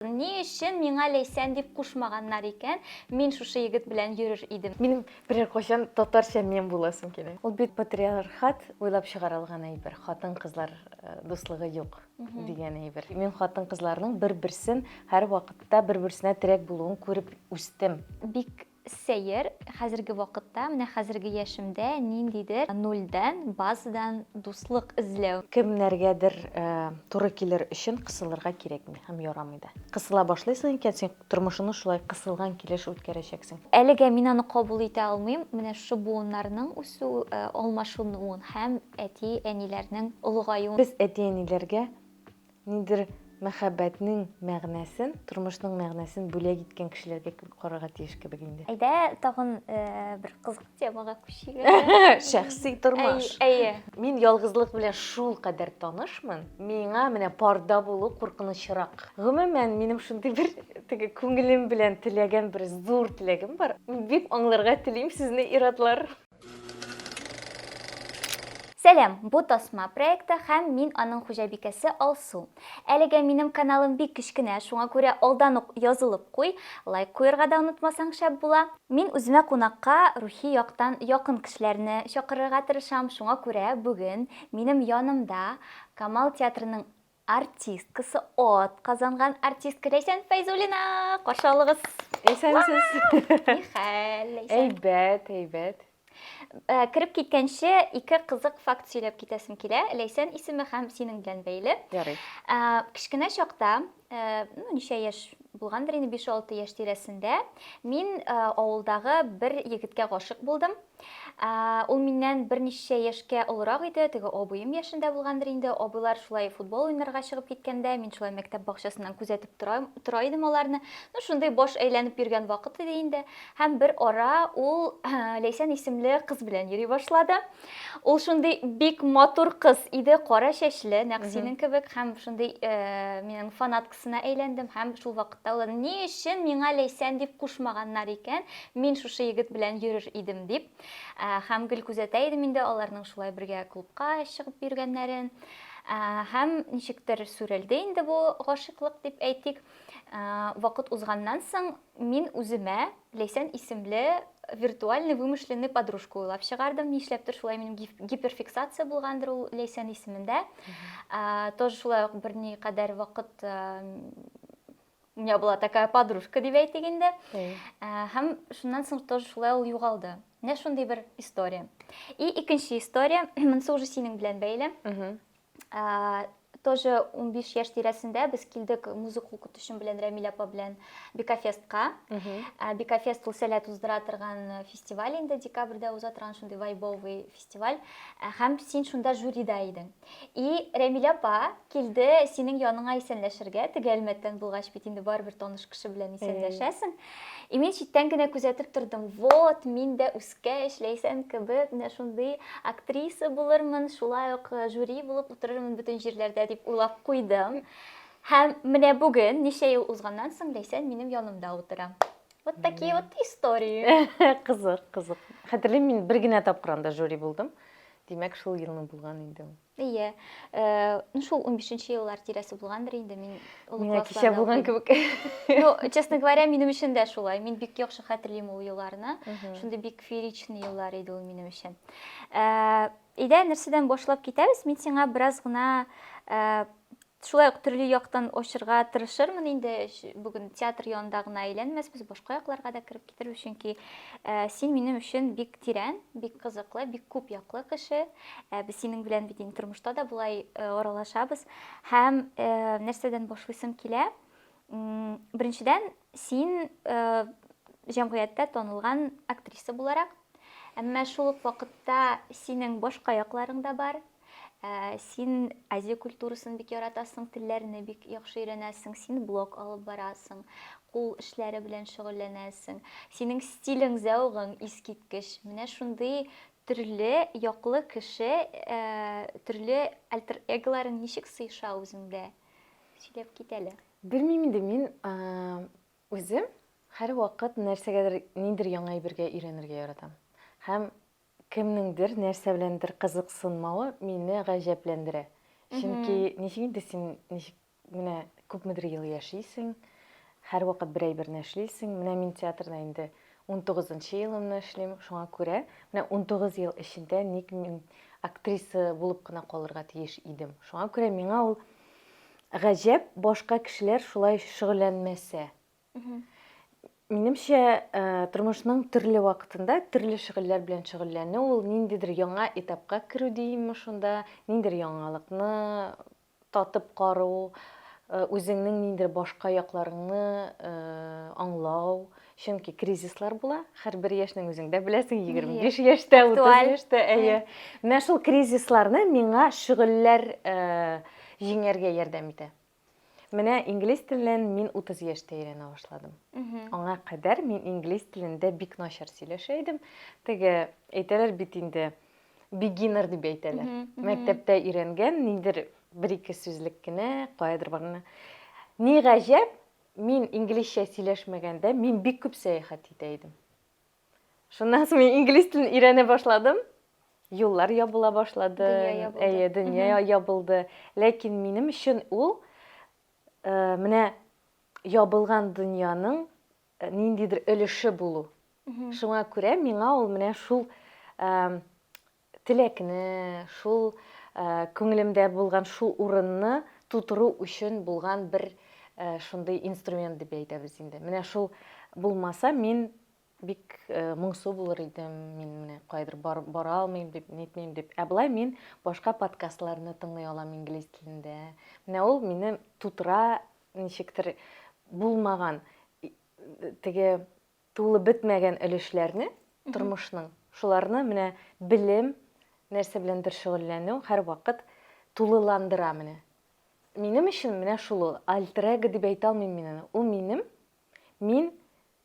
Ни өчен миңа Ләйсән дип кушмаганнар икән? Мин шушы егет белән йөрер идем. Минем берәр кайчан татарча мем буласым килә. Ул бит патриархат уйлап чыгарылган әйбер, хатын-кызлар дуслыгы юк дигән әйбер. Мин хатын-кызларның бер-берсен һәрвакытта бер-берсенә терәк булуын күреп үстем. Бик Сәер, хәзерге вакытта, менә хәзерге яшемдә ниндидер нульдән, базадан дуслык эзләү. Кемнәргәдер туры килер өчен кысылырга кирәкми һәм ярамый да. Кысыла башлыйсың икән, син тормышыңны шулай кысылган килеш үткәрәчәксең. Әлегә мин аны кабул итә алмыйм, менә шушы буыннарның үсү, алмашынуын һәм әти-әниләрнең олыгаюын. Без әти-әниләргә Ниндидер мәхәббәтнең мәгънәсен, тормышның мәгънәсен бүләк иткән кешеләргә кебек карарга тиеш кебек инде. Әйдә, тагын бер кызык темага күчик. Шәхси тормыш. Әйе. Мин ялгызлык белән шулкадәр танышмын, миңа менә парда булу куркынычрак. Гомумән, минем шундый бер теге күңелем белән теләгән бер зур теләгем бар. Бик аңларга телим сезне, ир-атлар. Сәлам, бу Тасма проекты һәм мин аның хуҗабикәсе Алсу. Әлегә минем каналым бик кечкенә, шуңа күрә алдан ук язылып куй, лайк куерга да онытмасаң шәп була. Мин үземә кунакка рухи яктан якын кешеләрне чакырырга тырышам, шуңа күрә бүген минем янымда Камал театрының Артисткасы от казанган артистка Ләйсән Фәйзуллина! Каршы алыгыз! Исәнсез! Ни хәл, Ләйсән? Әйбәт, әйбәт. Э, кереп киткәнче ике кызык факт сөйләп китәсем килә ләйсән исеме һәм синең белән бәйле ярый э, кечкенә чакта э, ну ничә яшь булгандыр инде биш алты яшь тирәсендә мин авылдагы бер егеткә гашык булдым Ул миннән берничә яшькә олырак иде, теге абыем яшендә булгандыр инде. Абыйлар шулай футбол уйнарга чыгып киткәндә, мин шулай мәктәп бакчасыннан күзәтеп тора, тора идем аларны. Ну, шундый баш әйләнеп йөргән вакыт иде инде. Һәм бер ара ул Ләйсән исемле кыз белән йөри башлады. Ул шундый бик матур кыз иде, кара чәчле, нәкъ синең кебек һәм шундый э, минем фанат кызына әйләндем һәм шул вакытта уйладым, ни өчен миңа Ләйсән дип кушмаганнар икән, мин шушы егет белән йөрер идем дип. Һәм гел күзәтә идем инде аларның шулай бергә клубка чыгып йөргәннәрен. Һәм ничектер сүрелде инде бу гашыйклык дип әйтик. Вакыт узганнан соң Мин үземә Ләйсән исемле виртуальный вымышленный подружка уйлап чыгардым. Нишләптер шулай минем гиперфиксация булгандыр ул Ләйсән исемендә. Тоже шулай ук берни кадәр вакыт у меня была такая подружка дип әйтик инде. Һәм шуннан соң тоже шулай ул югалды. Менә шундый бер история. И икенче история, монысы уже синең белән бәйле. тоже 15 яшь тирәсендә без килдек музыка укытучым белән Рәмилә апа белән Бикафестка. Ә, Бикафест ул сәләт уздыра торган э, фестиваль инде декабрьдә уза торган шундый вайбовый фестиваль. Ә, Һәм син шунда жюрида идең. И Рәмилә апа килде синең яныңа исәнләшергә, теге Әлмәттән булгач бит инде барыбер таныш кеше белән исәнләшәсең. И мин читтән генә күзәтеп тордым. Вот, мин дә үз Кә эшләйсән кебек, менә шундый актриса булырмын, шулай ук э, жюри булып утырырмын бөтен җирләрдә дип уйлап куйдым. Һәм менә бүген, ничә ел узганнан соң, Ләйсән минем янымда утыра. Вот такие вот истории. Кызык, кызык. Хәтерлим, мин бер генә тапкыр анда жюри булдым. Димәк, шул елны булган инде ул. Әйе. Э, ну шул 15-нче еллар тирәсе булгандыр инде мин олы Мина кичә булган кебек. Ну, честно говоря, минем өчен дә шулай. Мин бик яхшы хәтерлим ул елларны. Шундый бик фееричный еллар иде ул минем өчен. Э, Идә нәрсәдән башлап китәбез? Мин сиңа бераз гына э, Шулай ук төрле яктан ачырга тырышырмын инде. Бүген театр янында гына әйләнмәсбез, башка якларга да кереп китербез, чөнки син минем өчен бик тирән, бик кызыклы, бик күп яклы кеше. Без синең белән бит инде тормышта да болай аралашабыз. Һәм нәрсәдән башлыйсым килә? Беренчедән, син җәмгыятьтә танылган актриса буларак, әмма шул ук вакытта синең башка якларың да бар, Ә, син Азия культурасын бик яратасың, телләрне бик яхшы өйрәнәсең, син блог алып барасың, кул эшләре белән шөгыльләнәсең. Синең стилең, зәвыгың искиткеч. Менә шундый төрле яклы кеше, ә, төрле альтер-эголарың ничек сыеша үзеңдә? Сөйләп кит әле. Белмим инде, мин, ә, үзем һәрвакыт нәрсәгәдер, ниндидер яңа әйбергә өйрәнергә яратам. Һәм Кемнеңдер нәрсә беләндер кызыксынмавы мине гаҗәпләндерә. Чөнки ничек инде син, ничек менә күпмедер ел яшисең, һәрвакыт бер әйберне эшлисең. Менә мин театрда инде унтугызынчы елымны эшлим, шуңа күрә менә унтугыз ел эчендә ник мин актриса булып кына калырга тиеш идем? Шуңа күрә миңа ул гаҗәп, башка кешеләр шулай шөгыльләнмәсә, Минемчә, э, тормышның төрле вакытында төрле шөгыльләр белән шөгыльләнү ул ниндидер яңа этапка керү димме шунда, ниндидер яңалыкны татып кару, э, үзеңнең ниндидер башка якларыңны э, аңлау. Чөнки кризислар була, һәрбер яшьнең үзең дә беләсең, 25 яшьтә, 30 Актуаль. яшьтә, әйе. Менә шул кризисларны миңа шөгыльләр э, җиңәргә ярдәм итә. Менә инглиз телен мин 30 яшьтә өйрәнә башладым. Аңа кадәр мин инглиз телендә бик начар сөйләшә идем. Теге әйтәләр бит инде beginner дип әйтәләр. Мәктәптә өйрәнгән нидер бер ике сүзлек кенә, каядыр барганда. Ни гаҗәп, мин инглизчә сөйләшмәгәндә, мин бик күп сәяхәт итә идем. Шуннан соң мин инглиз телен өйрәнә башладым. Юллар ябыла башлады. Дөнья ябылды. Әйе, дөнья ябылды. Ләкин минем өчен ул э, менә ябылган дөньяның э, ниндидер өлеше булу. Шуңа күрә миңа ул менә шул э, теләкне, шул күңелемдә булган шул урынны тутыру өчен булган бер шундый инструмент дип әйтәбез инде. Менә шул булмаса, мин бик моңсу булыр идем, мин менә кайдыр бара алмыйм дип, нитмим дип. Ә болай мин башка подкастларны тыңлый алам инглиз телендә. Менә ул мине тутыра, ничектер булмаган теге Тулы бетмәгән өлешләрне тормышның, шуларны менә белем, нәрсә беләндер шөгыльләнү һәрвакыт тулыландыра менә. Минем өчен менә шул ул. Альтер-эго дип әйтә алмыйм мин аны. Ул минем, мин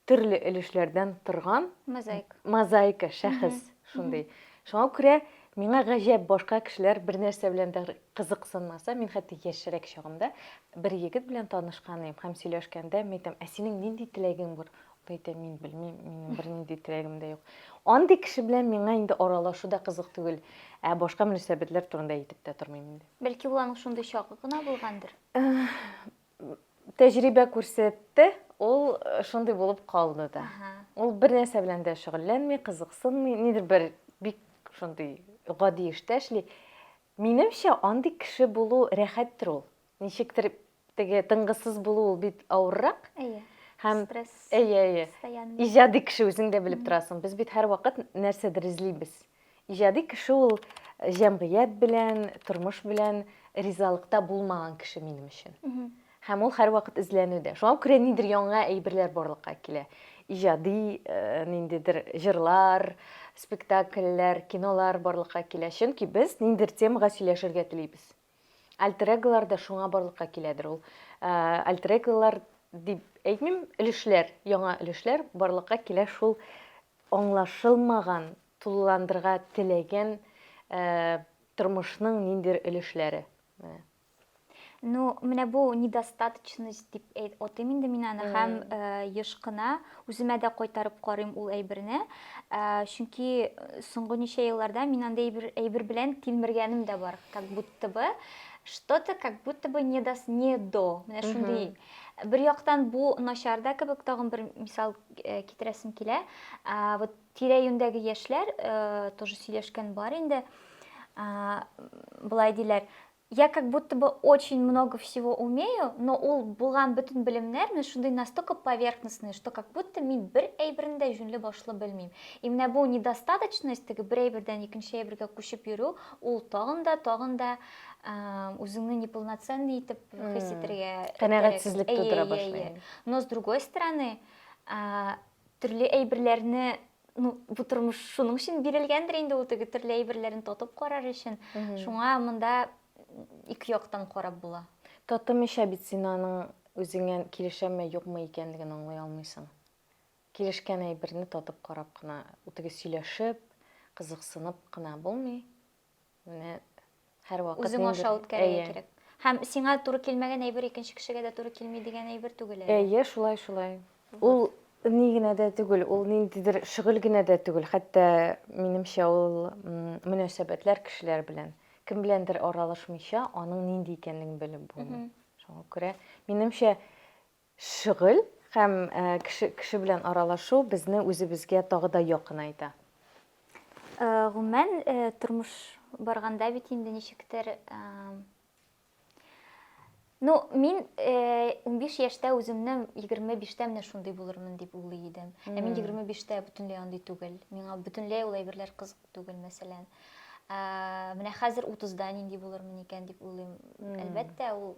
төрле өлешләрдән торган мозаика шәхес шундый. Шуңа күрә Миңа гаҗәп, башка кешеләр бер нәрсә белән дә кызыксынмаса, мин хәтта яшьрәк чагымда бер егет белән танышкан идем һәм сөйләшкәндә мин әйтәм, ә синең нинди теләгең бар? Ул әйтә, мин белмим, минем бернинди теләгем дә юк. Андый кеше белән миңа инде аралашу да кызык түгел, ә башка мөнәсәбәтләр турында әйтеп тә тормыйм инде. Бәлки ул аның шундый чагы гына булгандыр? Тәҗрибә күрсәтте, ул шундый булып калды да. Ул бер нәрсә белән дә шөгыльләнми, кызыксынмый, нидер бер бик шундый гади эштә эшли. Минемчә, андый кеше булу рәхәттер ул. Ничектер теге тынгысыз булу ул бит авыррак. Әйе. Һәм стресс. Әйе, әйе. Постоянный. Иҗади кеше үзең дә белеп торасың. Без бит һәрвакыт нәрсәдер эзлибез. Иҗади кеше ул җәмгыять белән, тормыш белән ризалыкта булмаган кеше минем өчен. Һәм ул һәрвакыт эзләнүдә. Шуңа күрә нидер яңа әйберләр барлыкка килә. Иҗади э, ниндидер җырлар, спектакльләр, кинолар барлыкка килә. Чөнки без ниндидер темага сөйләшергә телибез. Альтер-эголар да шуңа барлыкка киләдер ул. Ә, альтер-эголар дип әйтмим, өлешләр, яңа өлешләр барлыкка килә шул аңлашылмаган, тулыландырга теләгән ә, тормышның ниндидер өлешләре. Менә. Ну, менә бу недостаточность дип әйт, отыйм инде мин аны һәм э, ешкына Үземә дә кайтарып карыйм ул әйберне, ә, чөнки соңгы ничә елларда мин андый әйбер, әйбер белән тилмергәнем дә бар. Как будто бы что-то как будто бы не дос, не до. Менә шундый. Бер яктан бу начар да кебек, тагын бер мисал э, китерәсем килә. Ә, вот тирә-юньдәге яшьләр э, тоже сөйләшкән бар инде. Ә, былай диләр, Я как будто бы очень много всего умею, но ул булган бөтен белемнәр менә шундый настолько поверхностные, что как будто мин бер әйберне дә җүнле башлы белмим. И менә бу недостаточность, теге бер әйбердән икенче әйбергә күчеп йөрү, ул тагын да, тагын да үзеңне неполноценный итеп хис итәргә Канәгатьсезлек тудыра башлый. Но с другой стороны, төрле әйберләрне ну, бу тормыш шуның өчен бирелгәндер инде ул теге төрле әйберләрен тотып карар өчен. Шуңа монда ике яктан карап була. Татымыйча бит син аның үзеңә килешәме, юкмы икәнлеген аңлый алмыйсың. Килешкән әйберне татып карап кына, үтеге сөйләшеп, кызыксынып кына булмый. Менә һәрвакыт үзең аша үткәрергә кирәк. Һәм сиңа туры килмәгән әйбер икенче кешегә дә туры килми дигән әйбер түгел әле. Әйе, шулай, шулай. Ул ни генә дә түгел, ул ниндидер шөгыль генә дә түгел, хәтта минемчә ул мөнәсәбәтләр кешеләр белән. Кем беләндер аралашмыйча, аның нинди икәнлеген белеп булмый. Шуңа күрә, минемчә, Шөгыль һәм кеше кеше белән аралашу безне үзебезгә тагы да якынайта. Гомумән, тормыш барганда бит инде ничектер Ну, мин 15 яшьтә үземне 25-тә менә шундый булырмын дип уйлый идем. Ә мин 25-тә бөтенләй андый түгел. Миңа бөтенләй ул әйберләр кызык түгел, мәсәлән. Менә хәзер 30-да нинди булырмын икән дип уйлыйм. Әлбәттә, ул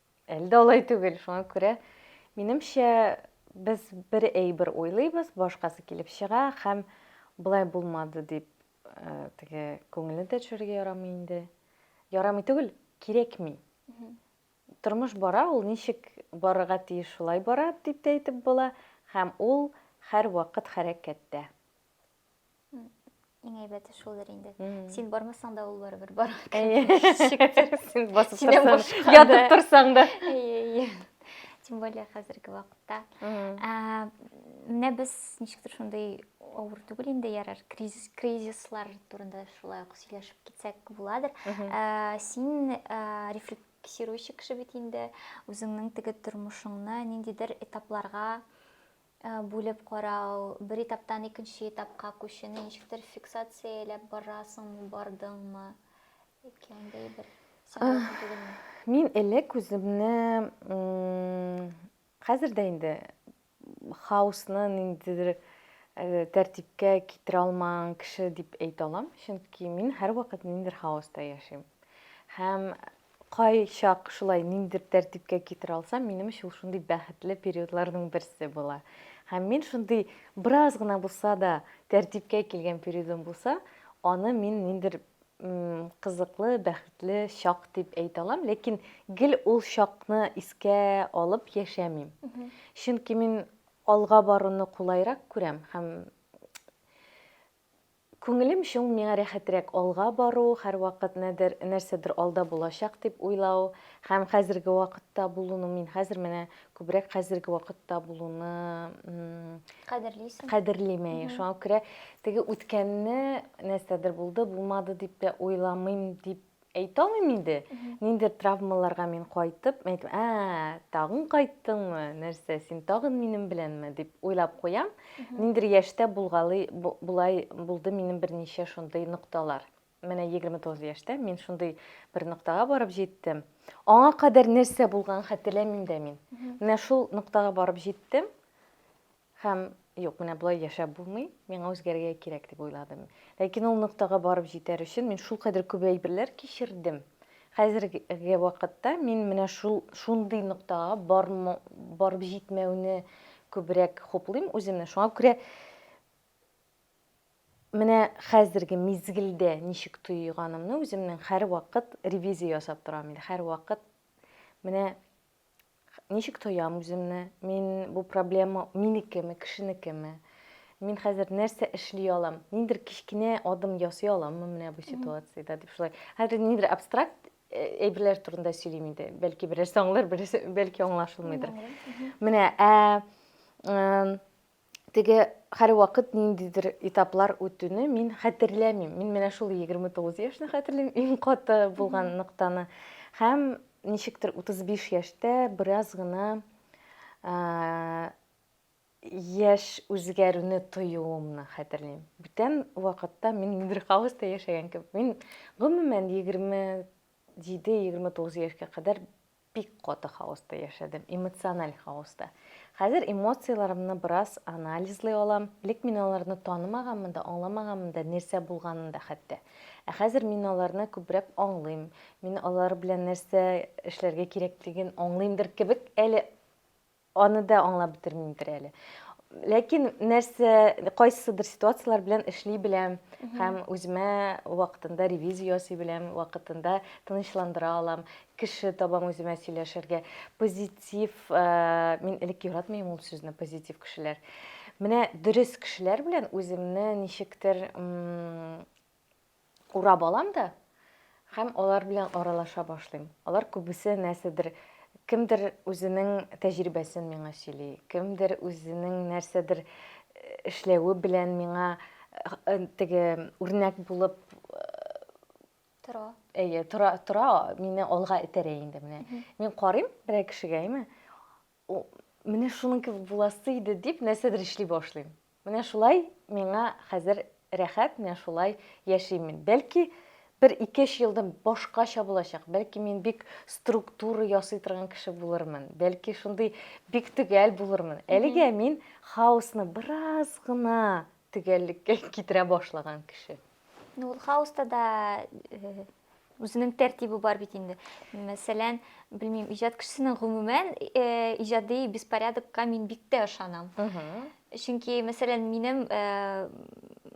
Әле дә алай түгел, шуңа күрә минемчә без бер әйбер уйлыйбыз, башкасы килеп чыга һәм болай булмады дип э, теге күңелне дә төшерергә ярамый инде. Ярамый түгел, кирәкми. Тормыш бара, ул ничек барырга тиеш, шулай бара дип тә әйтеп була һәм ул һәр вакыт хәрәкәттә. Иң әйбәте шулдыр инде. Син бармасаң да ул барыбер бар. Син басып торсаң, ятып торсаң да. Тем более хәзерге вакытта. Менә без ничектер шундый авыр түгел инде ярар кризис кризислар турында шулай ук сөйләшеп китсәк буладыр син рефлексирующий кеше бит инде үзеңнең теге тормышыңны ниндидер этапларга Бүлеп карау, бер этаптан икенче этапка күчүне ничектер фиксацияләп барасыңмы, бардыңмы? Яки андый бер Мин элек үземне хәзер дә инде хаосны ниндидер э, тәртипкә китерә алмаган кеше дип әйтә алам, чөнки мин һәрвакыт ниндидер хаоста яшим. Һәм Кайчак шулай ниндидер тәртипкә китерә алсам, минем өчен ул шундый бәхетле периодларның берсе була. Һәм мин шундый бераз гына булса да тәртипкә килгән периодым булса, аны мин ниндидер кызыклы, бәхетле чак дип әйтә алам, ләкин гел ул чакны искә алып яшәмим. Чөнки мин алга баруны кулайрак күрәм һәм Күңелем чуң, миңа рәхәтрәк алга бару, һәрвакыт нәдер, нәрсәдер алда булачак дип уйлау һәм хәзерге вакытта булуны, мин хәзер менә күбрәк хәзерге вакытта булуны Кадерлисең. кадерлим, әйе, шуңа күрә теге үткәнне, нәрсәдер булды, булмады дип тә уйламыйм дип Әйтә алмыйм инде, ниндидер травмаларга мин кайтып, мин әйтәм, ә, тагын кайттыңмы, нәрсә, син тагын минем беләнме, дип уйлап куям. Ниндидер яшьтә булгалый, болай булды минем берничә шундый нокталар. Менә 29 яшьтә мин шундый бер ноктага барып җиттем. Аңа кадәр нәрсә булганын хәтерләмим дә мин. Менә шул ноктага барып җиттем. Һәм, юк, менә болай яшәп булмый, миңа үзгәрергә кирәк, дип уйладым. Ләкин ул ноктага барып җитәр өчен мин шулкадәр күп әйберләр кичердем. Хәзерге вакытта мин менә шул, шундый ноктага барып җитмәүне күбрәк хуплыйм үземне. Шуңа күрә менә хәзерге мизгелдә ничек тойганымны үземнең һәрвакыт ревизия ясап торам инде. Һәрвакыт менә Ничек тоям үземне? Мин бу проблема минекеме, кешенекеме? Мин хәзер нәрсә эшли алам? Ниндер кечкенә адым ясый аламмы менә бу ситуациядә дип шулай. Хәзер ниндер абстракт әйберләр турында сөйлим инде. Бәлки берәрсе аңлар, берәрсе бәлки аңлашылмыйдыр. Менә ә теге һәрвакыт ниндидер этаплар үтүне мин хәтерләмим. Мин менә шул 29 яшьне хәтерлим, иң каты булган ноктаны. Һәм ничектер 35 яшьтә бераз гына яшь үзгәрүне тоюымны хәтерлим. Бүтән вакытта мин ниндидер хаоста яшәгән кебек. Мин гомумән 27-29 яшькә кадәр Бик каты хаоста яшәдем, эмоциональ хаоста. Хәзер эмоцияләрымне бераз анализлый алам. Элек мин аларны танымаганмын да, аңламаганмын да, нәрсә булганын да хәтта. Ә хәзер мин аларны күбрәк аңлыйм. Мин алар белән нәрсә эшләргә кирәклеген аңлыймдыр кебек әле. Аны да аңлап бетермимдер әле. Ләкин нәрсә, кайсыдыр ситуацияләр белән эшли беләм һәм үземә вакытында ревизия ясый беләм, вакытында тынычландыра алам, кеше табам үземә сөйләшергә. Позитив, э, мин элек яратмыйм ул сүзне, позитив кешеләр. Менә дөрес кешеләр белән үземне ничектер урап алам да һәм алар белән аралаша башлыйм. Алар күбесе нәрсәдер, кемдер үзенең тәҗрибәсен миңа сөйли, кемдер үзенең нәрсәдер эшләве белән миңа теге үрнәк булып тора. Әйе, тора, тора, мине алга этәрә инде менә. Мин карыйм берәр кешегә, әйме? О, менә шуның кебек буласы иде, дип нәрсәдер эшли башлыйм. Менә шулай миңа хәзер рәхәт, менә шулай яшим мин. Бәлки, бер ике-өч елдан башкача булачак, бәлки мин бик структура ясый торган кеше булырмын, бәлки шундый бик төгәл булырмын. Әлегә мин хаосны бераз гына төгәллеккә китерә башлаган кеше. Ну, ул хаоста да э, үзенең тәртибе бар бит инде. Мәсәлән, белмим, иҗат кешесенең гомумән э, иҗади беспорядокка мин бик тә ышанам. Чөнки, мәсәлән, минем э,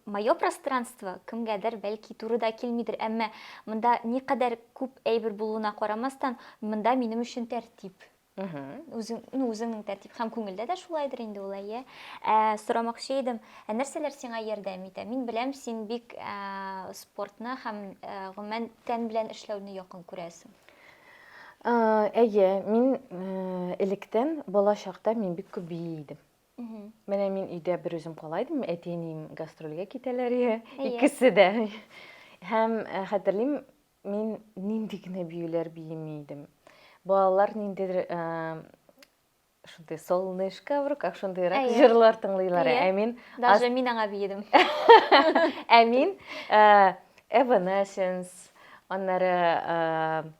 мое пространство кемгәдер бәлки туры да килмидер, әмма монда никадәр күп әйбер булуына карамастан, монда минем өчен тәртип. үзеңнең тәртип һәм күңелдә дә шулайдыр инде ул әйе ә, сорамакчы идем ә нәрсәләр сиңа ярдәм итә мин беләм син бик ә, спортны һәм ә, гомумән тән белән эшләүне якын күрәсең әйе мин электән бала чакта мин бик күп бии идем менә мин өйдә бер үзем кала идем әти әнием гастрольгә китәләр икесе дә һәм хәтерлим Мин нинди генә биюләр биеми идем. Балалар ниндидер шундый солнышко в руках шундыйрак җырлар тыңлыйлар. Ә мин даже мин аңа биедем. Ә мин Evanescence, аннары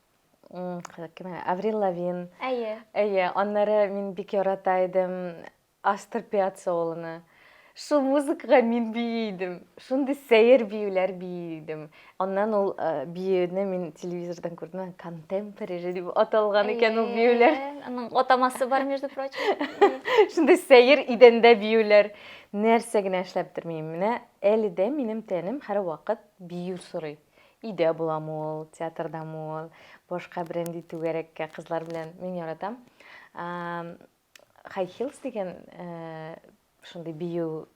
кем? Аврил Лавин. Әйе. Әйе, аннары мин бик ярата идем. Астор Пиаццоланы. Шул музыкага мин бии идем. Шундый сәер биюләр бии идем. Аннан ул биюне мин телевизордан күрдем, контемпорари дип аталган икән ул биюләр. Аның атамасы бар, между прочим. Шундый сәер идәндә биюләр. Нәрсә генә эшләп тормыйм. Менә әле дә минем тәнем һәрвакыт бию сорый. Өйдә буламы ул, театрдамы ул, башка берәндәй түгәрәккә кызлар белән. Мин яратам. Хай хилс дигән шундый бию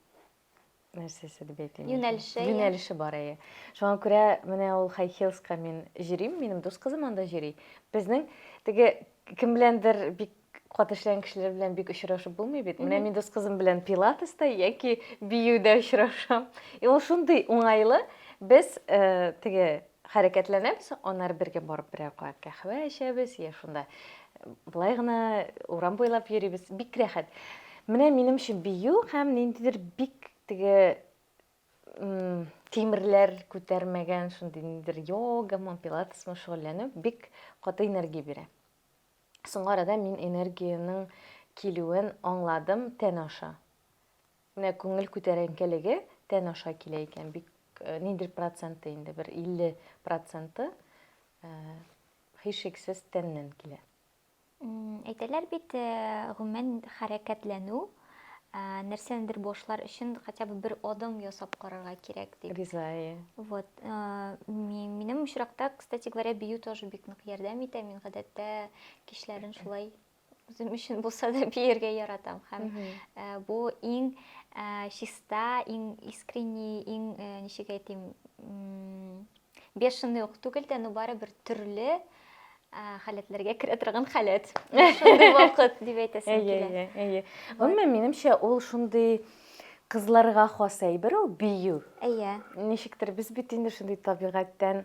нәрсәсе дип әйтим. Юнәлеше. Юнәлеше бар әйе. Шуңа күрә менә ул хай хилска мин җөрим, минем дус кызым анда җөри. Безнең теге кем беләндер бик кат эшләгән кешеләр белән бик очрашып булмый бит. Менә мин дус кызым белән пилатеста яки биюдә очрашам. И ул шундый уңайлы, без теге Хәрәкәтләнәбез, аннары бергә барып берәр кат каһвә эчәбез, йә шунда болай гына урам буйлап йөрибез. Бик рәхәт. Менә минем өчен бию һәм ниндидер бик теге тимерләр күтәрмәгән шундый ниндидер йогамы, пилатесмы шөгыльләнү бик каты энергия бирә. Соңгы арада мин энергиянең килүен аңладым тән аша. Менә күңел күтәренкелеге тән аша килә икән, бик ниндидер проценты инде, бер 50 проценты һичшиксез тәннән килә. Әйтәләр бит, гомумән хәрәкәтләнү, нәрсәнедер башлар өчен хотя бы бер адым ясап карарга кирәк дип. Риза, әйе. Вот. Минем очракта, кстати говоря, бию тоже бик нык ярдәм итә. Мин гадәттә кичләрен шулай Үзем өчен булса да биергә яратам һәм бу иң чиста, иң искренний, иң ничек әйтим, бешеный ук түгел дә, но барыбер төрле халәтләргә керә торган халәт. Шундый вакыт дип әйтәсем килә. Әйе, әйе. Гомумән, минемчә, ул шундый кызларга хас әйбер ул бию. Әйе. Ничектер без бит инде шундый табигатьтән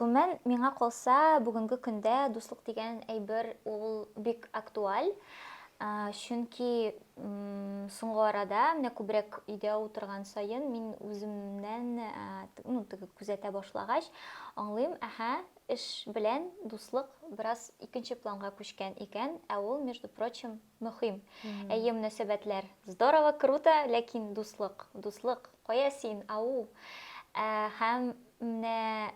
Гомумән, миңа калса, бүгенге көндә дуслык дигән әйбер ул бик актуаль. Чөнки соңгы арада, менә күбрәк өйдә утырган саен, мин үземнән, ну, теге күзәтә башлагач, аңлыйм, әһә, эш белән дуслык бераз икенче планга күчкән икән, ә ул, между прочим, Мөхим. Әйе, мөнәсәбәтләр. Здорово, круто, ләкин дуслык, дуслык, кая син, ау! Һәм менә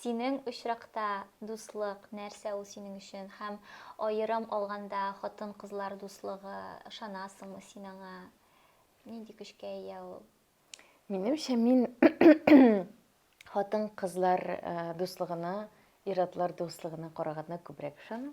синең очракта дуслык, нәрсә ул синең өчен? Һәм аерым алганда хатын-кызлар дуслыгы, ышанасыңмы син аңа? Нинди көчкә ия ул? Минемчә, мин хатын-кызлар дуслыгына, ир-атлар дуслыгына караганда күбрәк ышанам.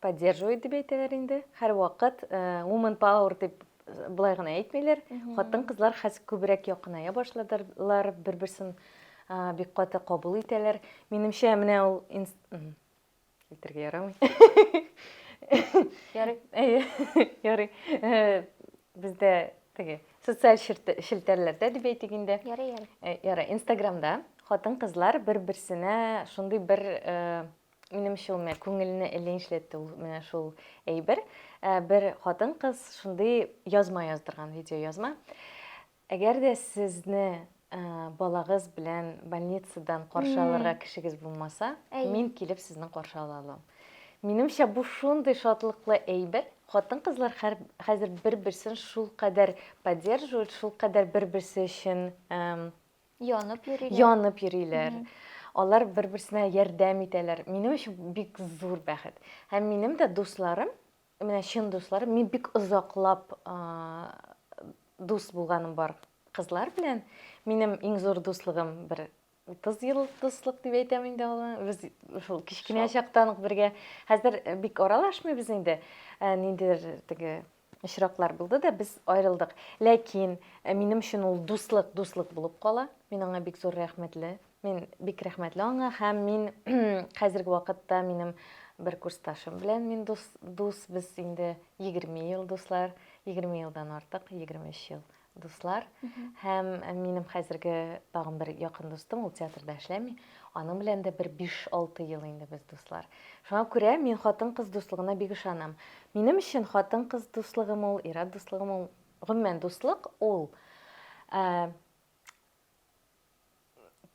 Поддерживает дип әйтәләр инде. Һәрвакыт woman power дип болай гына әйтмиләр. Хатын-кызлар хәзер күбрәк якыная башладылар, бер-берсен бик каты кабул итәләр. Минемчә, менә ул илтергә ярамый. Ярый. Әйе, ярый. Бездә теге социаль челтәрләрдә дип әйтик инде. Ярый, ярый. Ярый, Инстаграмда хатын-кызлар бер-берсенә шундый бер Минемчә ул менә күңелне эленчләтте ул менә шул әйбер. Ә, Бер хатын-кыз шундый язма яздырган, видеоязма. Әгәр дә сезне ә, балагыз белән больницадан каршы алырга кешегез булмаса, Әй. мин килеп сезне каршы ала алам. Минемчә бу шундый шатлыклы әйбер. Хатын-кызлар хәр- хәзер бер-берсен шулкадәр поддерживают, шулкадәр бер-берсе өчен эм, Янып йөриләр. Янып йөриләр. Алар бер-берсенә ярдәм итәләр. Минем өчен бик зур бәхет. Һәм минем дә дусларым, менә чын дусларым, мин бик озаклап дус булганым бар кызлар белән. Минем иң зур дуслыгым бер 30 ел дуслык дип әйтәм инде аны. Без шул кечкенә чактан ук бергә. Хәзер бик аралашмыйбыз инде. Ниндидер теге Очраклар булды да, без аерылдык. Ләкин минем өчен ул дуслык, дуслык булып кала. Мин аңа бик зур рәхмәтле. Мин бик рәхмәтле аңа һәм мин хәзерге вакытта минем бер курсташым белән мин дус, дус без инде 20 ел дуслар, 20 елдан артык, 23 ел. дуслар һәм минем хәзерге тагын бер якын дустым, ул театрда эшләми. Аның белән дә бер 5-6 ел инде без дуслар. Шуңа күрә мин хатын-кыз дуслыгына бик ышанам. Минем өчен хатын-кыз дуслыгым ул, ир-ат дуслыгым ул, гомумән дуслык ул ә,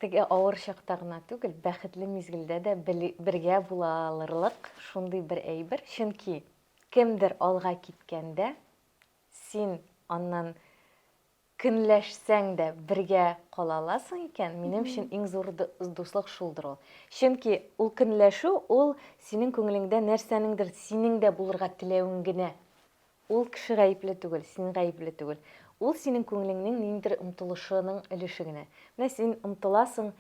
теге авыр чакта гына түгел, бәхетле мизгелдә дә бергә була алырлык шундый бер әйбер, чөнки кемдер алга киткәндә, Син аннан көнләшсәң дә бергә кала аласың икән, минем өчен иң зур дуслык шулдыр ул. Чөнки ул көнләшү, ул синең күңелеңдә нәрсәнеңдер синең дә булырга теләвең генә. Ул кеше гаепле түгел, син гаепле түгел. Ул синең күңелеңнең ниндидер омтылышының өлеше генә. Менә син омтыласың,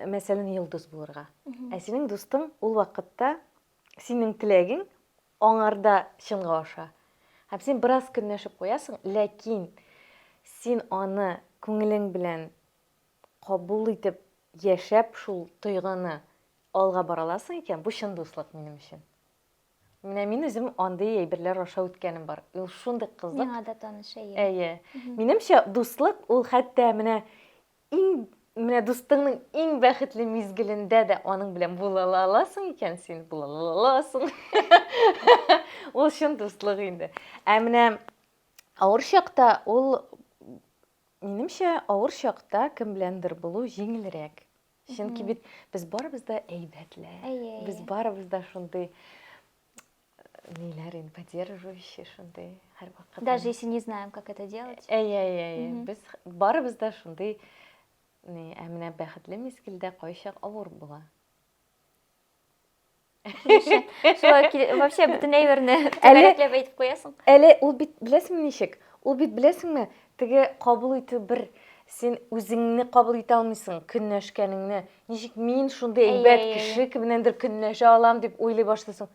мәсәлән, йолдыз булырга. Ә синең дустың ул вакытта синең теләгең, Аңарда чынга аша. Һәм син бераз көнләшеп куясың, ләкин син аны күңелең белән кабул итеп яшәп шул тойгыны алга бара аласың икән, бу чын дуслык минем өчен. Менә мин үзем андый әйберләр аша үткәнем бар. Ул шундый кызык. Миңа да таныш, әйе. Әйе. Минемчә, дуслык ул хәтта менә Иң менә дустыңның иң бәхетле мизгелендә дә аның белән була аласың икән син, була аласың. Ул чын дуслык инде. Ә менә авыр чакта ул минемчә авыр чакта кем беләндер булу җиңелрәк. Чөнки бит без барыбыз да әйбәтләр. Без барыбыз да шундый ниләрен поддерживающий шундый һәрвакыт даже если не знаем как это делать әйе әйе әйе без барыбыз да шундый ни ә менә бәхетле мизгелдә кайчак авыр була вообще бөтен әйберне төгәләкләп әйтеп куясың әле ул бит беләсеңме ничек ул бит беләсеңме теге кабул итү бер син үзеңне кабул итә алмыйсың көнләшкәнеңне Ничек мин шундый әйбәт кеше кемнәндер көнләшә алам дип уйлый башлыйсың.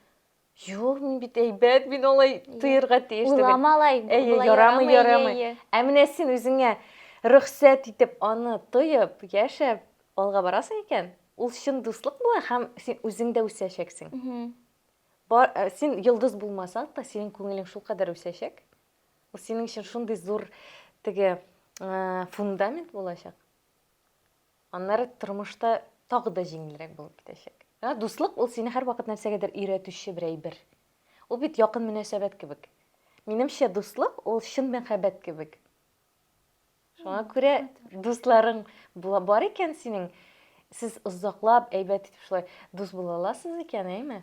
Юк, мин бит әйбәт, мин алай тоерга тиеш түгел. Уйлама алай. Әйе, ярамый, ярамый. Ә менә син үзеңә рөхсәт итеп аны тоеп, яшәп алга барасың икән, ул чын дуслык була һәм син үзең дә үсәчәксең. Бар, э, син йолдыз булмасаң да, синең күңелең шул кадәр үсәчәк. Ул синең өчен шундый зур теге э, фундамент булачак. Аннары тормышта тагы да җиңелрәк булып китәчәк. Ә дуслык ул сине һәрвакыт нәрсәгәдер өйрәтүче бер әйбер. Ул бит якын мөнәсәбәт кебек. Минемчә, дуслык ул чын мәхәббәт кебек. Шуңа күрә дусларың була бар икән синең, сез озаклап әйбәт итеп шулай дус була аласыз икән, әйме?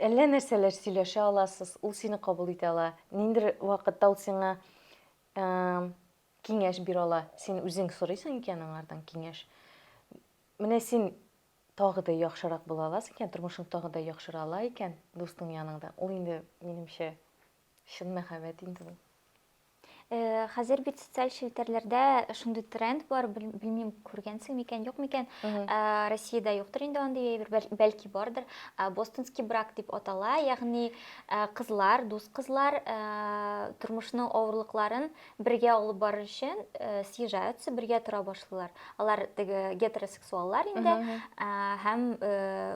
Әллә нәрсәләр сөйләшә аласыз, ул сине кабул итә ала. Ниндер вакытта ул сиңа Киңәш бирала. Син үзең сорыйсың икән аңардан киңәш. Менә син тагы да яхшырак була аласың икән, тормышың тагы да яхшыра ала икән дустың яныңда. Ул инде, минемчә, чын мәхәббәт инде ул. Э, хәзер бит социаль челтәрләрдә шундый тренд бар, белмим, күргәнсең микән, юк микән. Э, Россиядә юктыр инде андый әйбер, бәлки бардыр. Э, Бостонский брак дип атала, ягъни кызлар, дус кызлар тормышның авырлыкларын Бергә алып барыр өчен э, съезжаются, бергә тора башлыйлар. Алар теге гетеросексуаллар инде э, һәм э,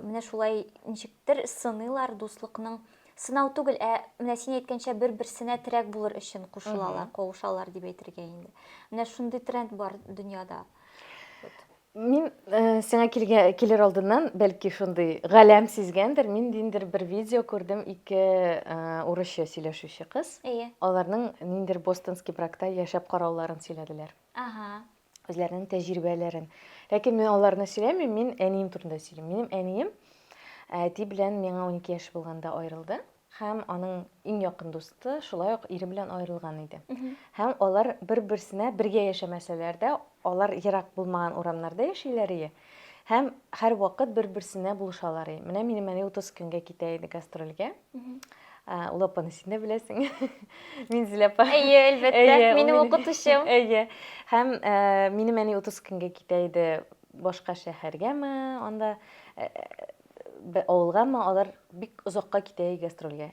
менә шулай ничектер сыныйлар дуслыкның сынау түгел, ә менә син әйткәнчә бер-берсенә терәк булыр өчен кушылалар, кавышалар дип әйтергә инде. Менә шундый тренд бар дөньяда. Мин сиңа килгә, килер алдыннан, бәлки шундый галәм сизгәндер, мин ниндидер бер видео күрдем, ике урысча сөйләшүче кыз. Әйе. Аларның ниндидер бостонский бракта яшәп карауларын сөйләделәр. Ага. Үзләренең тәҗрибәләрен. Ләкин мин аларны сөйләмим, мин әнием турында сөйлим. Минем әнием әти белән миңа 12 яшь булганда аерылды. Һәм аның иң якын дусты шулай ук ире белән аерылган иде. Һәм алар бер-берсенә бергә яшәмәсәләр дә, алар ерак булмаган урамнарда яшиләр ие. Һәм һәрвакыт бер-берсенә булышалар ие. Менә минем әни 30 көнгә китә иде гастрольгә. Ул апаны син дә беләсең. Минзил апа. Әйе, әлбәттә. Минем укытучым. Әйе. Һәм минем әни 30 көнгә китә иде башка шәһәргәме, анда бер авылга, әмма алар бик озакка китә гастрольгә.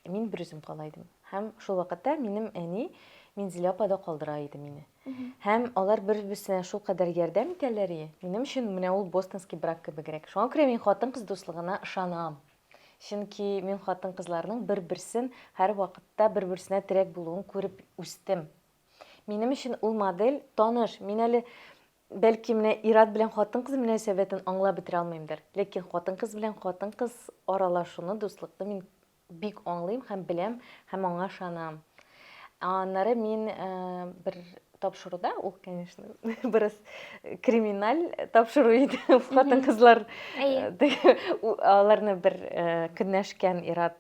Мин бер үзем кала идем. Һәм шул вакытта минем әни Минзилә апа да калдыра иде мине. Һәм алар бер-берсенә шул кадәр ярдәм итәләр и. Минем өчен менә ул бостонский брак кебегрәк. Шуңа күрә мин хатын-кыз дуслыгына ышанам. Чөнки мин хатын-кызларның бер-берсен һәр вакытта бер-берсенә терәк булуын күреп үстем. Минем өчен ул модель таныш. Мин әле Бәлки менә ир-ат белән хатын-кыз мөнәсәбәтен аңлап бетерә алмыймдыр, ләкин хатын-кыз белән хатын-кыз аралашуны, дуслыкны мин бик аңлыйм һәм беләм һәм аңа ышанам. Аннары мин бер тапшыруда, ул, конечно, бераз криминаль тапшыру иде, хатын-кызлар аларны бер көнләшкән ир-ат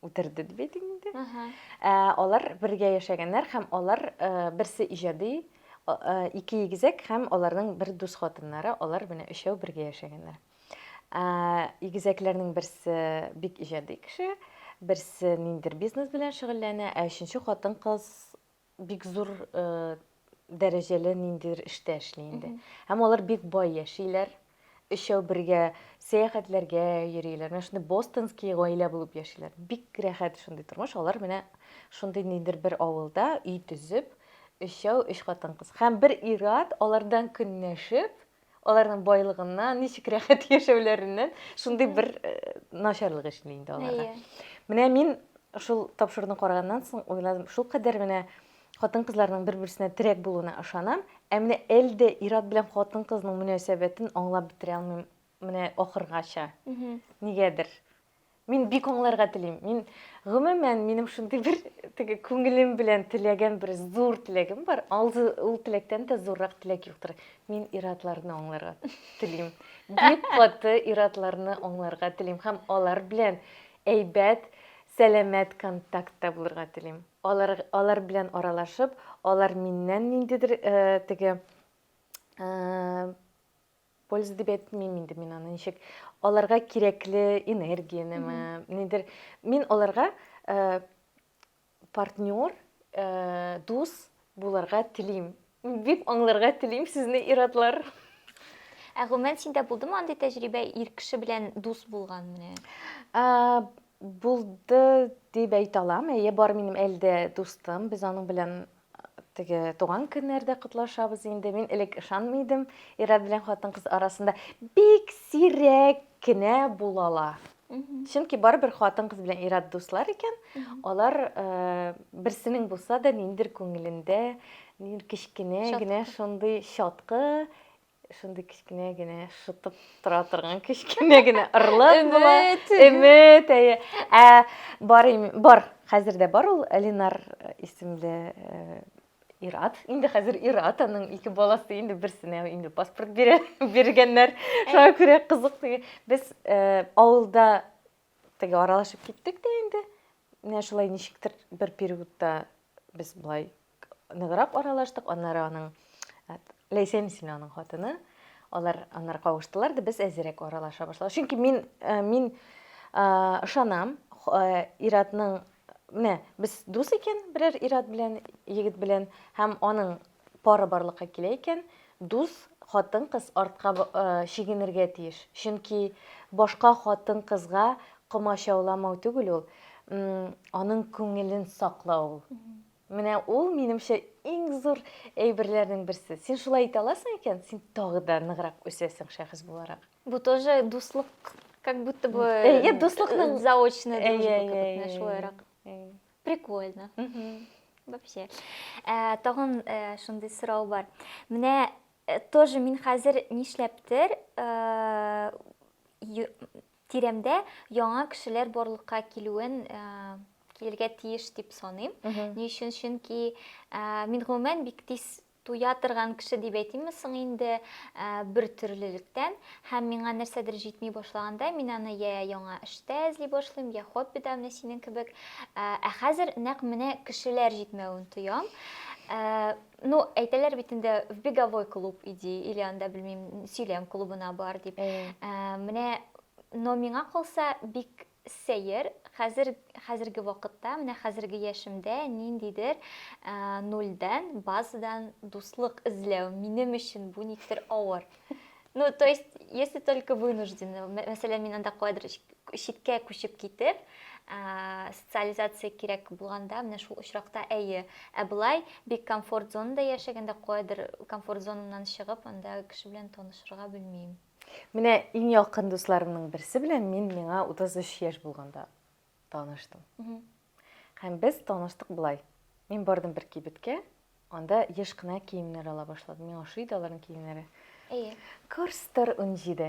үтерде дип әйтик инде. Ә, алар бергә яшәгәннәр һәм алар ә, берсе иҗади, ә, ике игезәк һәм аларның бер дус хатыннары, алар менә өчәү бергә яшәгәннәр. Ә, игезәкләрнең берсе бик иҗади кеше, берсе ниндер бизнес белән шөгыльләнә, ә өченче хатын-кыз бик зур э, дәрәҗәле ниндидер эштә эшли инде. Һәм алар бик бай яшиләр. Өчәү бергә сәяхәтләргә йөриләр. Менә шундый бостонский гаилә булып яшиләр. Бик рәхәт шундый тормыш. Алар менә шундый ниндидер бер авылда өй төзеп, өчәү өч хатын-кыз. Һәм бер ир-ат алардан көнләшеп, Аларның байлыгыннан, ничек рәхәт яшәүләреннән шундый бер э, начарлык эшли инде аларга. Менә мин шул тапшыруны караганнан соң уйладым, шул кадәр менә хатын-кызларның бер-берсенә терәк булуына ышанам, ә менә әлдә ир-ат белән хатын-кызның мөнәсәбәтен аңлап бетерә алмыйм менә ахыргача. Нигәдер. Мин бик аңларга телим. Мин гомумән минем шундый бер теге күңелем белән теләгән бер зур теләгем бар. Алды ул теләктән дә зуррак теләк юктыр. Мин иратларны аңларга телим. Бик каты иратларны аңларга телим һәм алар белән әйбәт, сәламәт контактта булырга телим. Алар алар белән аралашып, алар миннән ниндидер э, теге э, Польза дип әйтмим инде мин аны ничек. Аларга кирәкле энергиянеме, нидер. Мин аларга э, партнер, э, дус буларга телим. Дип аңларга телим сезне иратлар. Ә гомумән синдә булдымы андый тәҗрибә ир кеше белән дус булган менә? Ә, булды дип әйтә алам. Әйе, бар минем әлдә дустым. Без аның белән теге туган көннәрдә котлашабыз инде. Мин элек ышанмый идем, ир-ат белән хатын-кыз арасында бик сирәк кенә булалар. Чөнки барыбер хатын-кыз белән ир-ат дуслар икән, алар э, берсенең булса да ниндер күңелендә, ниндер кечкенә Чаткы. генә шундый чаткы Шундый кечкенә генә шытып тора торган кечкенә генә ырлык була. Өмет, әйе. Ә бар бар, хәзер дә бар ул Ленар исемле Ират. Инде хәзер Ират аның ике баласы инде берсенә инде паспорт бирә, биргәннәр. Шуңа күрә кызык теге. Без авылда теге аралашып киттек тә инде. Менә шулай ничектер бер периодта без болай ныграк аралаштык, аннары аның Ләйсән исемле аның хатыны, алар аннары кавыштылар да без әзерәк аралаша башладык. Чөнки мин э, мин э, ышанам э, Иратның менә без дус икән берәр Ират белән, егет белән һәм аның пары барлыкка килә икән, дус хатын кыз артка чигенергә тиеш. Чөнки башка хатын кызга комачауламау түгел ул, аның күңелен саклау ул. Менә ул, минемчә, иң зур әйберләрнең берсе. Син шулай итә аласың икән, син тагы да ныграк үсәсең шәхес буларак. Бу тоже дуслык, как будто бы... Әйе, дуслыкның... Заочная дружба, как будто, шулайрак. Прикольно. Вообще. Э, тагын э, шундый сорау бар. Менә э, тоже мин хәзер нишләптер Тирәмдә яңа кешеләр барлыкка килүен килергә тиеш дип саныйм. Ни өчен? Чөнки мин гомумән бик тиз туя торган кеше дип әйтимме соң инде бер төрлелектән һәм миңа нәрсәдер җитми башлаганда мин аны я яңа эштә эзли башлыйм я хоббида менә синең кебек ә хәзер нәкъ менә кешеләр җитмәвен тоям Ну, әйтәләр бит инде в беговой клуб иди, или анда белмим, сөйләм клубына бар дип. Э. Ә, менә но миңа калса бик сәер, хәзер хәзерге вакытта, менә хәзерге яшемдә ниндидер ә, нульдән, базадан дуслык эзләү минем өчен бу никтер авыр. Ну, то есть, если только вынуждены, мәсәлән, мин анда куадр читкә күчеп китеп, ә, социализация кирәк булганда, менә шул очракта әйе. Ә былай бик комфорт зонада яшәгәндә куадр комфорт зонамнан чыгып, анда кеше белән танышырга белмим. Менә иң якын дусларымның берсе белән мин миңа 33 яшь булганда таныштым. Һәм без таныштык болай. Мин бардым бер кибеткә, анда еш кына киемнәр ала башладым. Миңа ошый иде аларның киемнәре. Әйе. Курстор 17.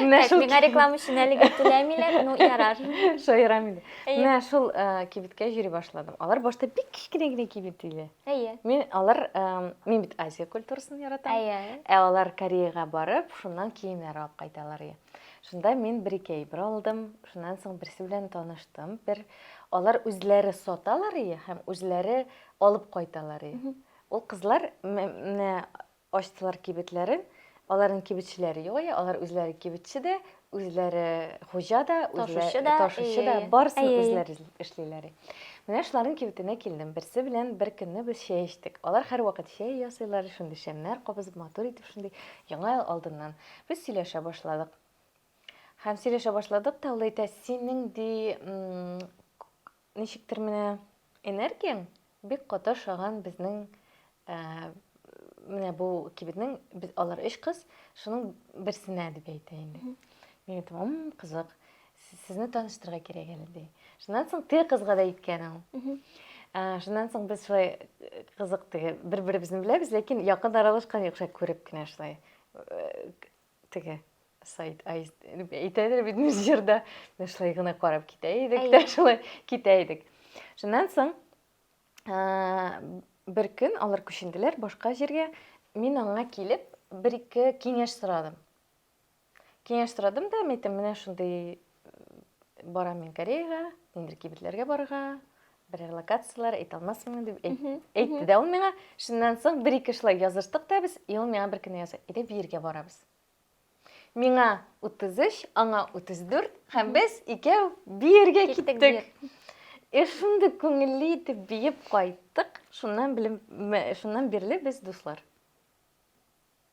Менә шул миңа реклама өчен әлегә түләмиләр, ну ярар. Шаярам инде. Менә шул э, кибеткә йөри башладым. Алар башта бик кечкенә генә кибет иде. Әйе. Мин алар э, мин бит Азия культурасын яратам. Әйе. Ә алар Кореяга барып, шуннан киемнәр алып кайталар иде. Шунда мин бер-ике әйбер алдым, шуннан соң берсе белән таныштым. Бер алар үзләре саталар ие һәм үзләре алып кайталар ие. Ул кызлар менә ачтылар кибетләрен, аларның кибетчеләре юк ие, алар үзләре кибетче дә, үзләре хуҗа да, ташучы да, ташучы да, барысын үзләре эшлиләр. Менә шуларның кибетенә килдем. Берсе белән бер көнне без чәй эчтек. Алар һәрвакыт чәй ясыйлар, шундый шәмнәр кабызып, матур итеп шундый яңа ел алдыннан. Без сөйләшә башладык. Һәм сөйләшә башладык та, ул әйтә, синең ди, ничектер менә энергияң бик каты ошаган безнең э, менә бу кибетнең без алар өч кыз шуның берсенә дип әйтә инде мин әйтәм м кызык сезне таныштырырга кирәк әле ди шуннан соң теге кызга да әйткән ул э, шуннан соң без шулай э, кызык теге бер беребезне беләбез ләкин якын аралашкан юк шулай күреп кенә шулай Теге сайт әйтәдер бит мизгерда менә шулай гына карап китә идек тә шулай китә идек шуннан соң бер көн алар күченделәр башка җиргә мин аңа килеп бер ике киңәш сорадым киңәш сорадым да мен әйттем менә шундый Барам мин Кореяга, нидер кибетләргә барырга, берәр локацияләр әйтә алмасмын дип әйтте дә ул миңа. Шуннан соң бер ике шулай языштык та без, и ул миңа бер көнне яза, әйдә бергә барабыз. Миңа 33, аңа 34, һәм без икәү бергә киттек. И шундый күңелле итеп биеп кайттык, шуннан белем, шуннан бирле без дуслар.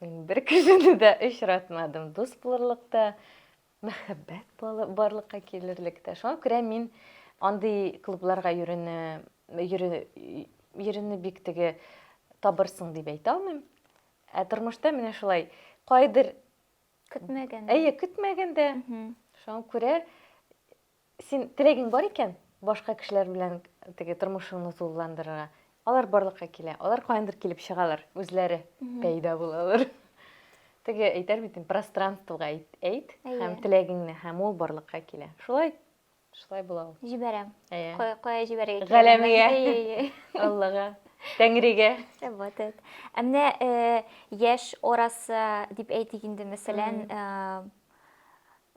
Мин бер кешене дә очратмадым. Дус булырлык та, мәхәббәт барлыкка килерлек тә. Шуңа күрә мин андый клубларга йөрүне йөрүне бик теге табырсың дип әйтә алмыйм. Ә тормышта менә шулай кайдыр көтмәгәндә. Әйе, көтмәгәндә. Шуңа күрә Син теләгең бар икән, башка кешеләр белән теге тормышыңны тулыландырырга. Алар барлыкка килә, алар каяндыр килеп чыгалар, үзләре пәйда булалар. Теге әйтәр бит, пространствога әйт, әйт һәм теләгеңне, һәм ул барлыкка килә. Шулай шулай була ул. Җибәрәм. Кая кая җибәрергә кирәк? Галәмгә. Аллага. Тәңригә. Вот это. Ә менә э, яшь орасы дип әйтик инде, мәсәлән, э,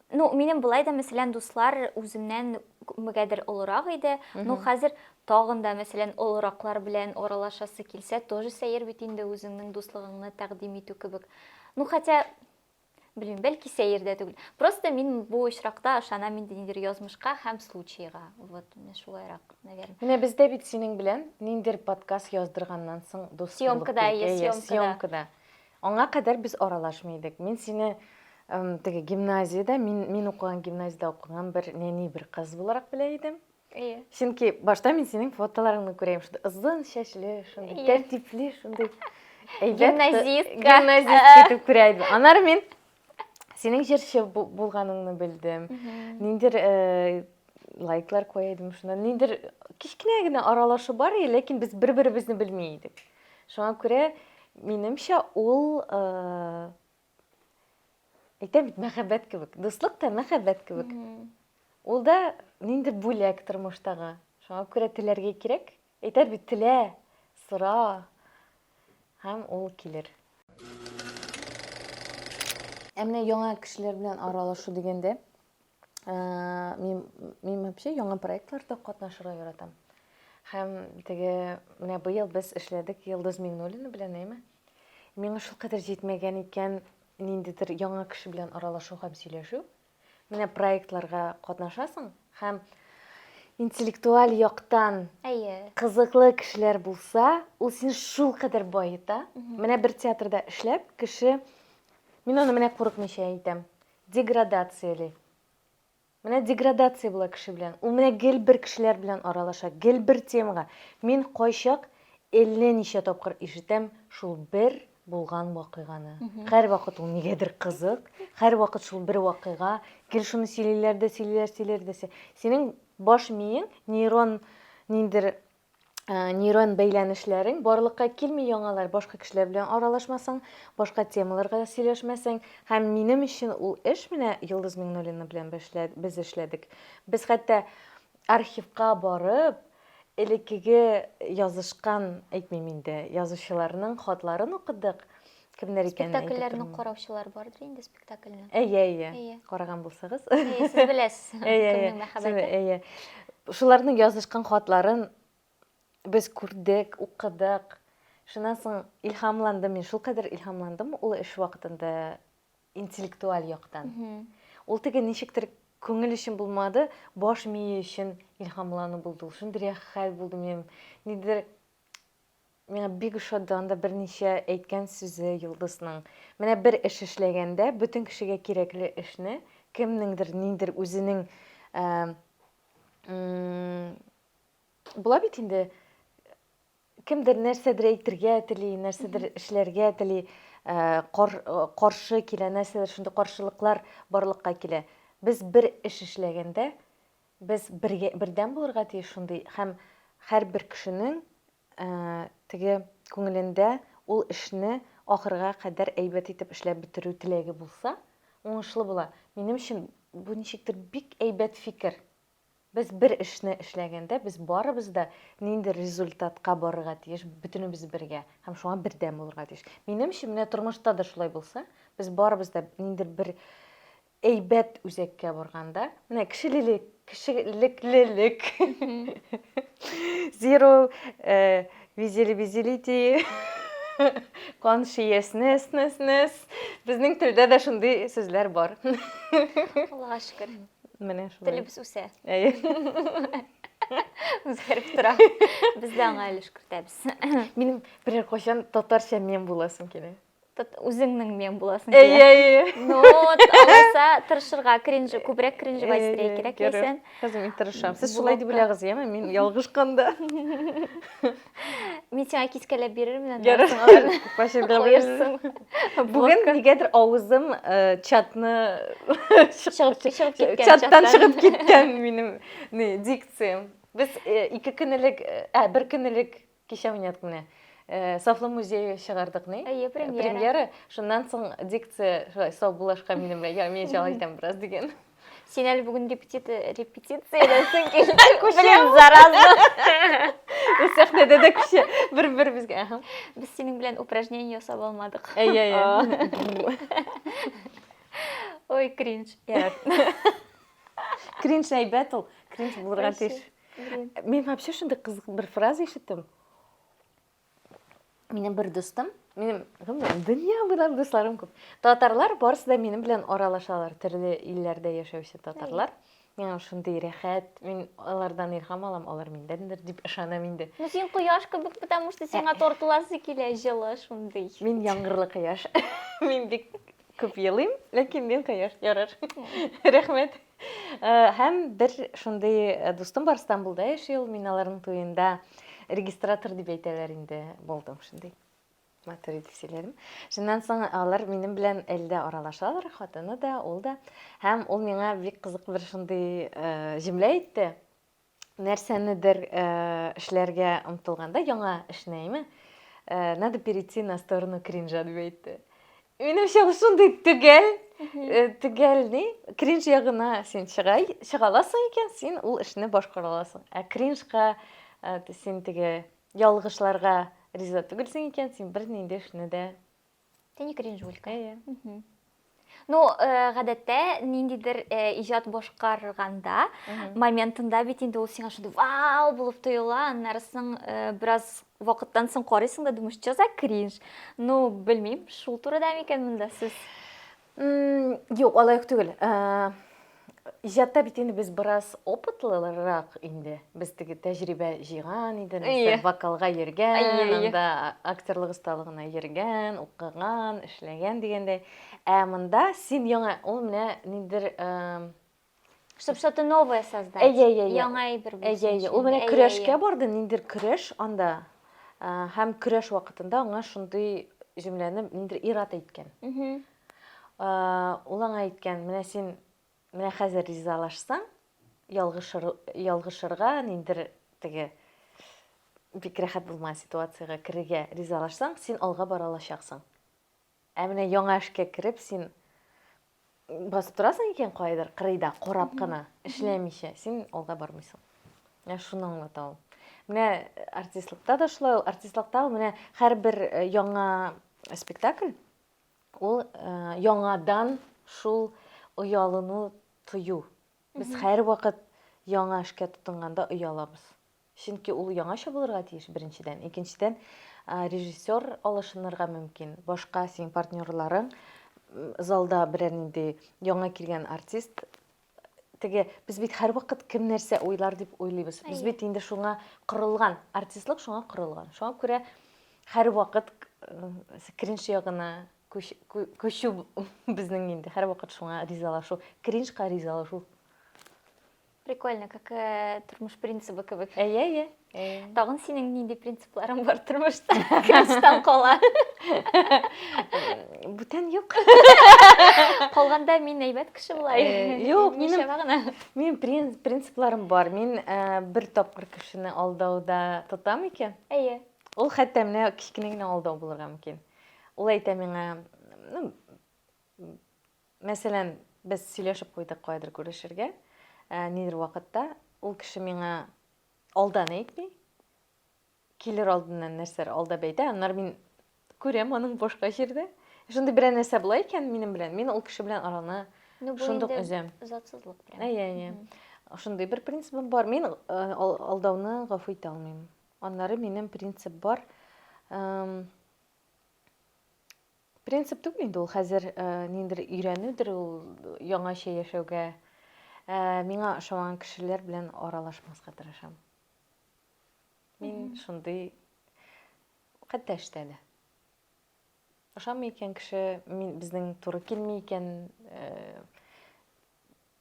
Ну, минем былай да, мәсәлән, дуслар үземнән күпмегәдер олырак иде. Ну, хәзер тагын да, мәсәлән, олыраклар белән аралашасы килсә, тоже сәер бит инде үзеңнең дуслыгыңны тәкъдим итү кебек. Ну, хотя, белмим, бәлки сәер дә түгел. Просто мин бу очракта ышана мин ниндидер язмышка һәм случайга. Вот, менә шулайрак, наверное. Менә бездә бит синең белән ниндидер подкаст яздырганнан соң дус булып. Съемкада, съемкада. Аңа кадәр без аралашмый идек. Мин сине теге гимназиядә, мин, мин укыган гимназиядә укыган бер нәни бер кыз буларак белә идем. Әйе. Чөнки башта мин синең фотоларыңны күрәм, шундый озын чәчле, шундый тәртипле, шундый әйбәт. Гимназистка. Гимназистка итеп күрә идем. Анар мин синең җырчы булганыңны белдем ниндидер э, лайклар куя идем шуннан ниндидер кечкенә генә аралашу бар иде ләкин без бер беребезне белми идек шуңа күрә минемчә ул э, әйтәм бит мәхәббәт кебек дуслык та мәхәббәт кебек ул да ниндидер бүләк тормыштагы шуңа күрә теләргә кирәк Әйтәр бит, телә, сора, һәм ул килер. Ә менә яңа кешеләр белән аралашу дигәндә, мин, мин вообще яңа проектларда катнашырга яратам. Һәм теге, менә быел без эшләдек Йылдыз Миңнуллина белән, әйме? Миңа шулкадәр җитмәгән икән ниндидер яңа кеше белән аралашу һәм сөйләшү. Менә проектларга катнашасың һәм интеллектуаль яктан Әйе. кызыклы кешеләр булса, ул сине шулкадәр баета. Менә бер театрда эшләп, кеше, мин аны менә курыкмыйча әйтәм, деградацияли. Менә деградация була кеше белән. Ул менә гел бер кешеләр белән аралаша, гел бер темага. Мин кайчак әллә ничә тапкыр ишетәм шул бер булган вакыйганы. Һәрвакыт ул нигәдер кызык, һәрвакыт шул бер вакыйга, гел шуны сөйлиләр дә, сөйлиләр, сөйлиләр дә. Синең баш миең, нейрон ниндер Э, нейрон бәйләнешләрең барлыкка килми яңалар башка кешеләр белән аралашмасаң башка темаларга сөйләшмәсәң һәм минем өчен ул эш менә йолдыз миңнуллина белән без эшләдек без хәтта Архивка барып, элеккеге язышкан, әйтмим инде, язучыларның хатларын укыдык. Кемнәр икәнен әйтеп тормыйм. Спектакльләрне караучылар бардыр инде, спектакльне. Әйе, әйе. Әйе. Караган булсагыз. Әйе, сез беләсез. Әйе, әйе. Кемнең мәхәббәте? Әйе. Шуларның язышкан хатларын без күрдек, укыдык. Шуннан соң илһамландым мин, шулкадәр илһамландым ул эш вакытында интеллектуаль яктан. Ул теге ничектер күңел өчен булмады, баш мие өчен илһамлану булды. Ул шундый рәхәт булды минем. Нидер миңа бик ошады анда берничә әйткән сүзе Йолдызның. Менә бер эш эшләгәндә, бөтен кешегә кирәкле эшне кемнеңдер, ниндер үзенең була бит инде Кемдер нәрсәдер әйтергә тели, нәрсәдер эшләргә тели, э, кар, э, каршы килә, нәрсәдер шундый каршылыклар барлыкка килә. Без бер эш эшләгәндә, без бергә, бердәм булырга тиеш шундый һәм һәрбер кешенең э, теге күңелендә ул эшне ахырга кадәр әйбәт итеп эшләп бетерү теләге булса, уңышлы була. Минем өчен бу ничектер бик әйбәт фикер. Без бер эшне эшләгәндә, без барыбыз да нинди результатка барырга тиеш, бөтенебез бергә һәм шуңа бердәм булырга тиеш. Минемчә, менә тормышта да шулай булса, без барыбыз да ниндидер бер әйбәт үзәккә барганда, менә кешелелек, кешелеклелек, zero э, visibility, consciousness, безнең телдә дә шундый сүзләр бар. Аллага шөкер. Менә шулай. Телебез үсә. Әйе. Үзгәреп тора. Без дә аңа өлеш кертәбез. Минем берәр кайчан татарча мем буласым килә. Үзеңнең мем буласың килә. Әйе, әйе. Ну, алайса тырышырга, кринжи, күбрәк кринжи әйтергә кирәк икән. Хәзер мин тырышам. Сез шулай дип беләгез, яме? Мин ялгышканда. Мин сиңа кискәләп бирермен аны. Ярар. Куерсың. Бүген нигәдер авызым э, чатны чыгып чыгып киткән. Чаттан чыгып киткән минем не дикциям. Без э, ике көн элек, э, ә бер көн элек кичә уйнадык менә. Э, Сафлы музее чыгардык ни? Әйе, премьера. Премьера. Шуннан соң дикция шулай сау булашка минем белән. Я, мин җал итәм бераз дигән. Син әле бүген репетиция репетицияләсең килде. Блин, зараза. Без сәхнәдә дә кеше бер-беребезгә. Ага. Без синең белән упражнение ясап алмадык. Әйе, әйе. Ой, кринж. Кринж әйбәт ул. Кринж булырга тиеш. Мин вообще шундый кызык бер фраза ишеттем. Минем бер дустым, минем гомумән дөнья белән дусларым күп. Татарлар барысы да минем белән аралашалар, төрле илләрдә яшәүче татарлар. Миңа шундый рәхәт, мин алардан илһам алам, алар миндәндер дип ышанам инде. Ну син кояш кебек, потому что сиңа э. тартыласы килә җылы шундый. Мин яңгырлы кояш. Мин бик күп елыйм, ләкин мин кояш ярар. Э. Рәхмәт. Э, һәм бер шундый э, дустым бар Стамбулда яши ул, мин аларның туенда регистратор дип әйтәләр инде булдым шундый. Матур итеп сөйләдем. Шуннан соң алар минем белән әлдә аралашалар, хатыны да, ул да. Һәм ул миңа бик кызык бер шундый э, җөмлә әйтте. нәрсәнедер эшләргә омтылганда, яңа эшне, әйме, надо перейти на сторону кринжа дип әйтте. Минемчә, ул шундый төгәл, төгәл ни, кринж ягына син чыгай, чыгаласың икән, син ул эшне башкара аласың. Ә кринжка син теге ялгышларга риза түгелсең икән, син бер нинди эшне дә Ты не кринжуль, кайгы. Ну, э, гадәттә ниндидер э, иҗат башкарганда моментында бит инде ул сиңа шундый вау булып тоела, аннары соң э, бераз вакыттан соң карыйсың да думаешь, что за кринж? Ну, белмим, шул турыда микән монда сүз? Юк, алай ук түгел. Иҗатта бит инде без бераз опытлырак инде. Без теге тәҗрибә җыйган инде, нәрсә вокалга йөргән, анда актерлык осталыгына йөргән, укыган, эшләгән дигәндәй. Ә монда син яңа, ул менә ниндидер Чтобы что-то новое создать. Әйе, әйе, әйе. Яңа әйбер булсын. Әйе, әйе. Ул менә көрәшкә барды, ниндер көрәш анда. Һәм көрәш вакытында аңа шундый җөмләне ниндер ират әйткән. Ул аңа әйткән, менә син менә хәзер ризалашсаң, ялгышыр, ялгышырга ниндер теге бик рәхәт булмаган ситуациягә керергә ризалашсаң, син алга бара алачаксың. Ә менә яңа эшкә кереп, син басып торасың икән кайдыр кырыйда, карап кына, эшләмичә, син алга бармыйсың. Менә шуны аңлата ул. Менә э, артистлыкта да шулай ул, артистлыкта ул менә һәрбер э, яңа спектакль ул э, яңадан шул оялыну тою. Без һәрвакыт яңа эшкә тотынганда оялабыз. Чөнки ул яңача булырга тиеш, беренчедән. Икенчедән, режиссер алышынырга мөмкин. Башка синең партнерларың залда берәр нинди яңа килгән артист теге без бит һәрвакыт кем нәрсә уйлар дип уйлыйбыз без бит инде шуңа корылган артистлык шуңа корылган шуңа күрә һәрвакыт э, кринж ягына күчү безнең инде һәрвакыт шуңа ризалашу кринжка ризалашу Прикольно, как э, тормыш принцибы кебек. Әйе, әйе. Тагын синең нинди принципларың бар тормышта? Кемстан кала? Бүтән юк. Калганда мин әйбәт кеше булай. Юк, минем гына. Мин принципларым бар. Мин э, бер тапкыр кешене алдауда тотам икән. Әйе. Ул хәтта менә кечкенә генә алдау булырга мөмкин. Ул әйтә миңа, ну, Мәсәлән, без сөйләшеп куйдык каядыр күрешергә, ә, нидер вакытта. Ул кеше миңа алдан әйтми, килер алдыннан нәрсәләр алдап әйтә, аннары мин күрәм аның башка җирдә. Шундый берәр нәрсә була икән минем белән, мин ул кеше белән араны Ну, бу шундук инде өзәм. затсызлык прям. Әйе, әйе. Шундый бер принцибым бар. Мин э, ал- алдауны гафу итә алмыйм. Аннары минем принцип бар. эм, Принцип түгел инде ул хәзер э, ниндер өйрәнүдер ул яңача яшәүгә. Э, миңа ошамаган кешеләр белән аралашмаска тырышам. Мин шундый хәтта эштә дә. Ошамый икән кеше, мин безнең туры килми икән э,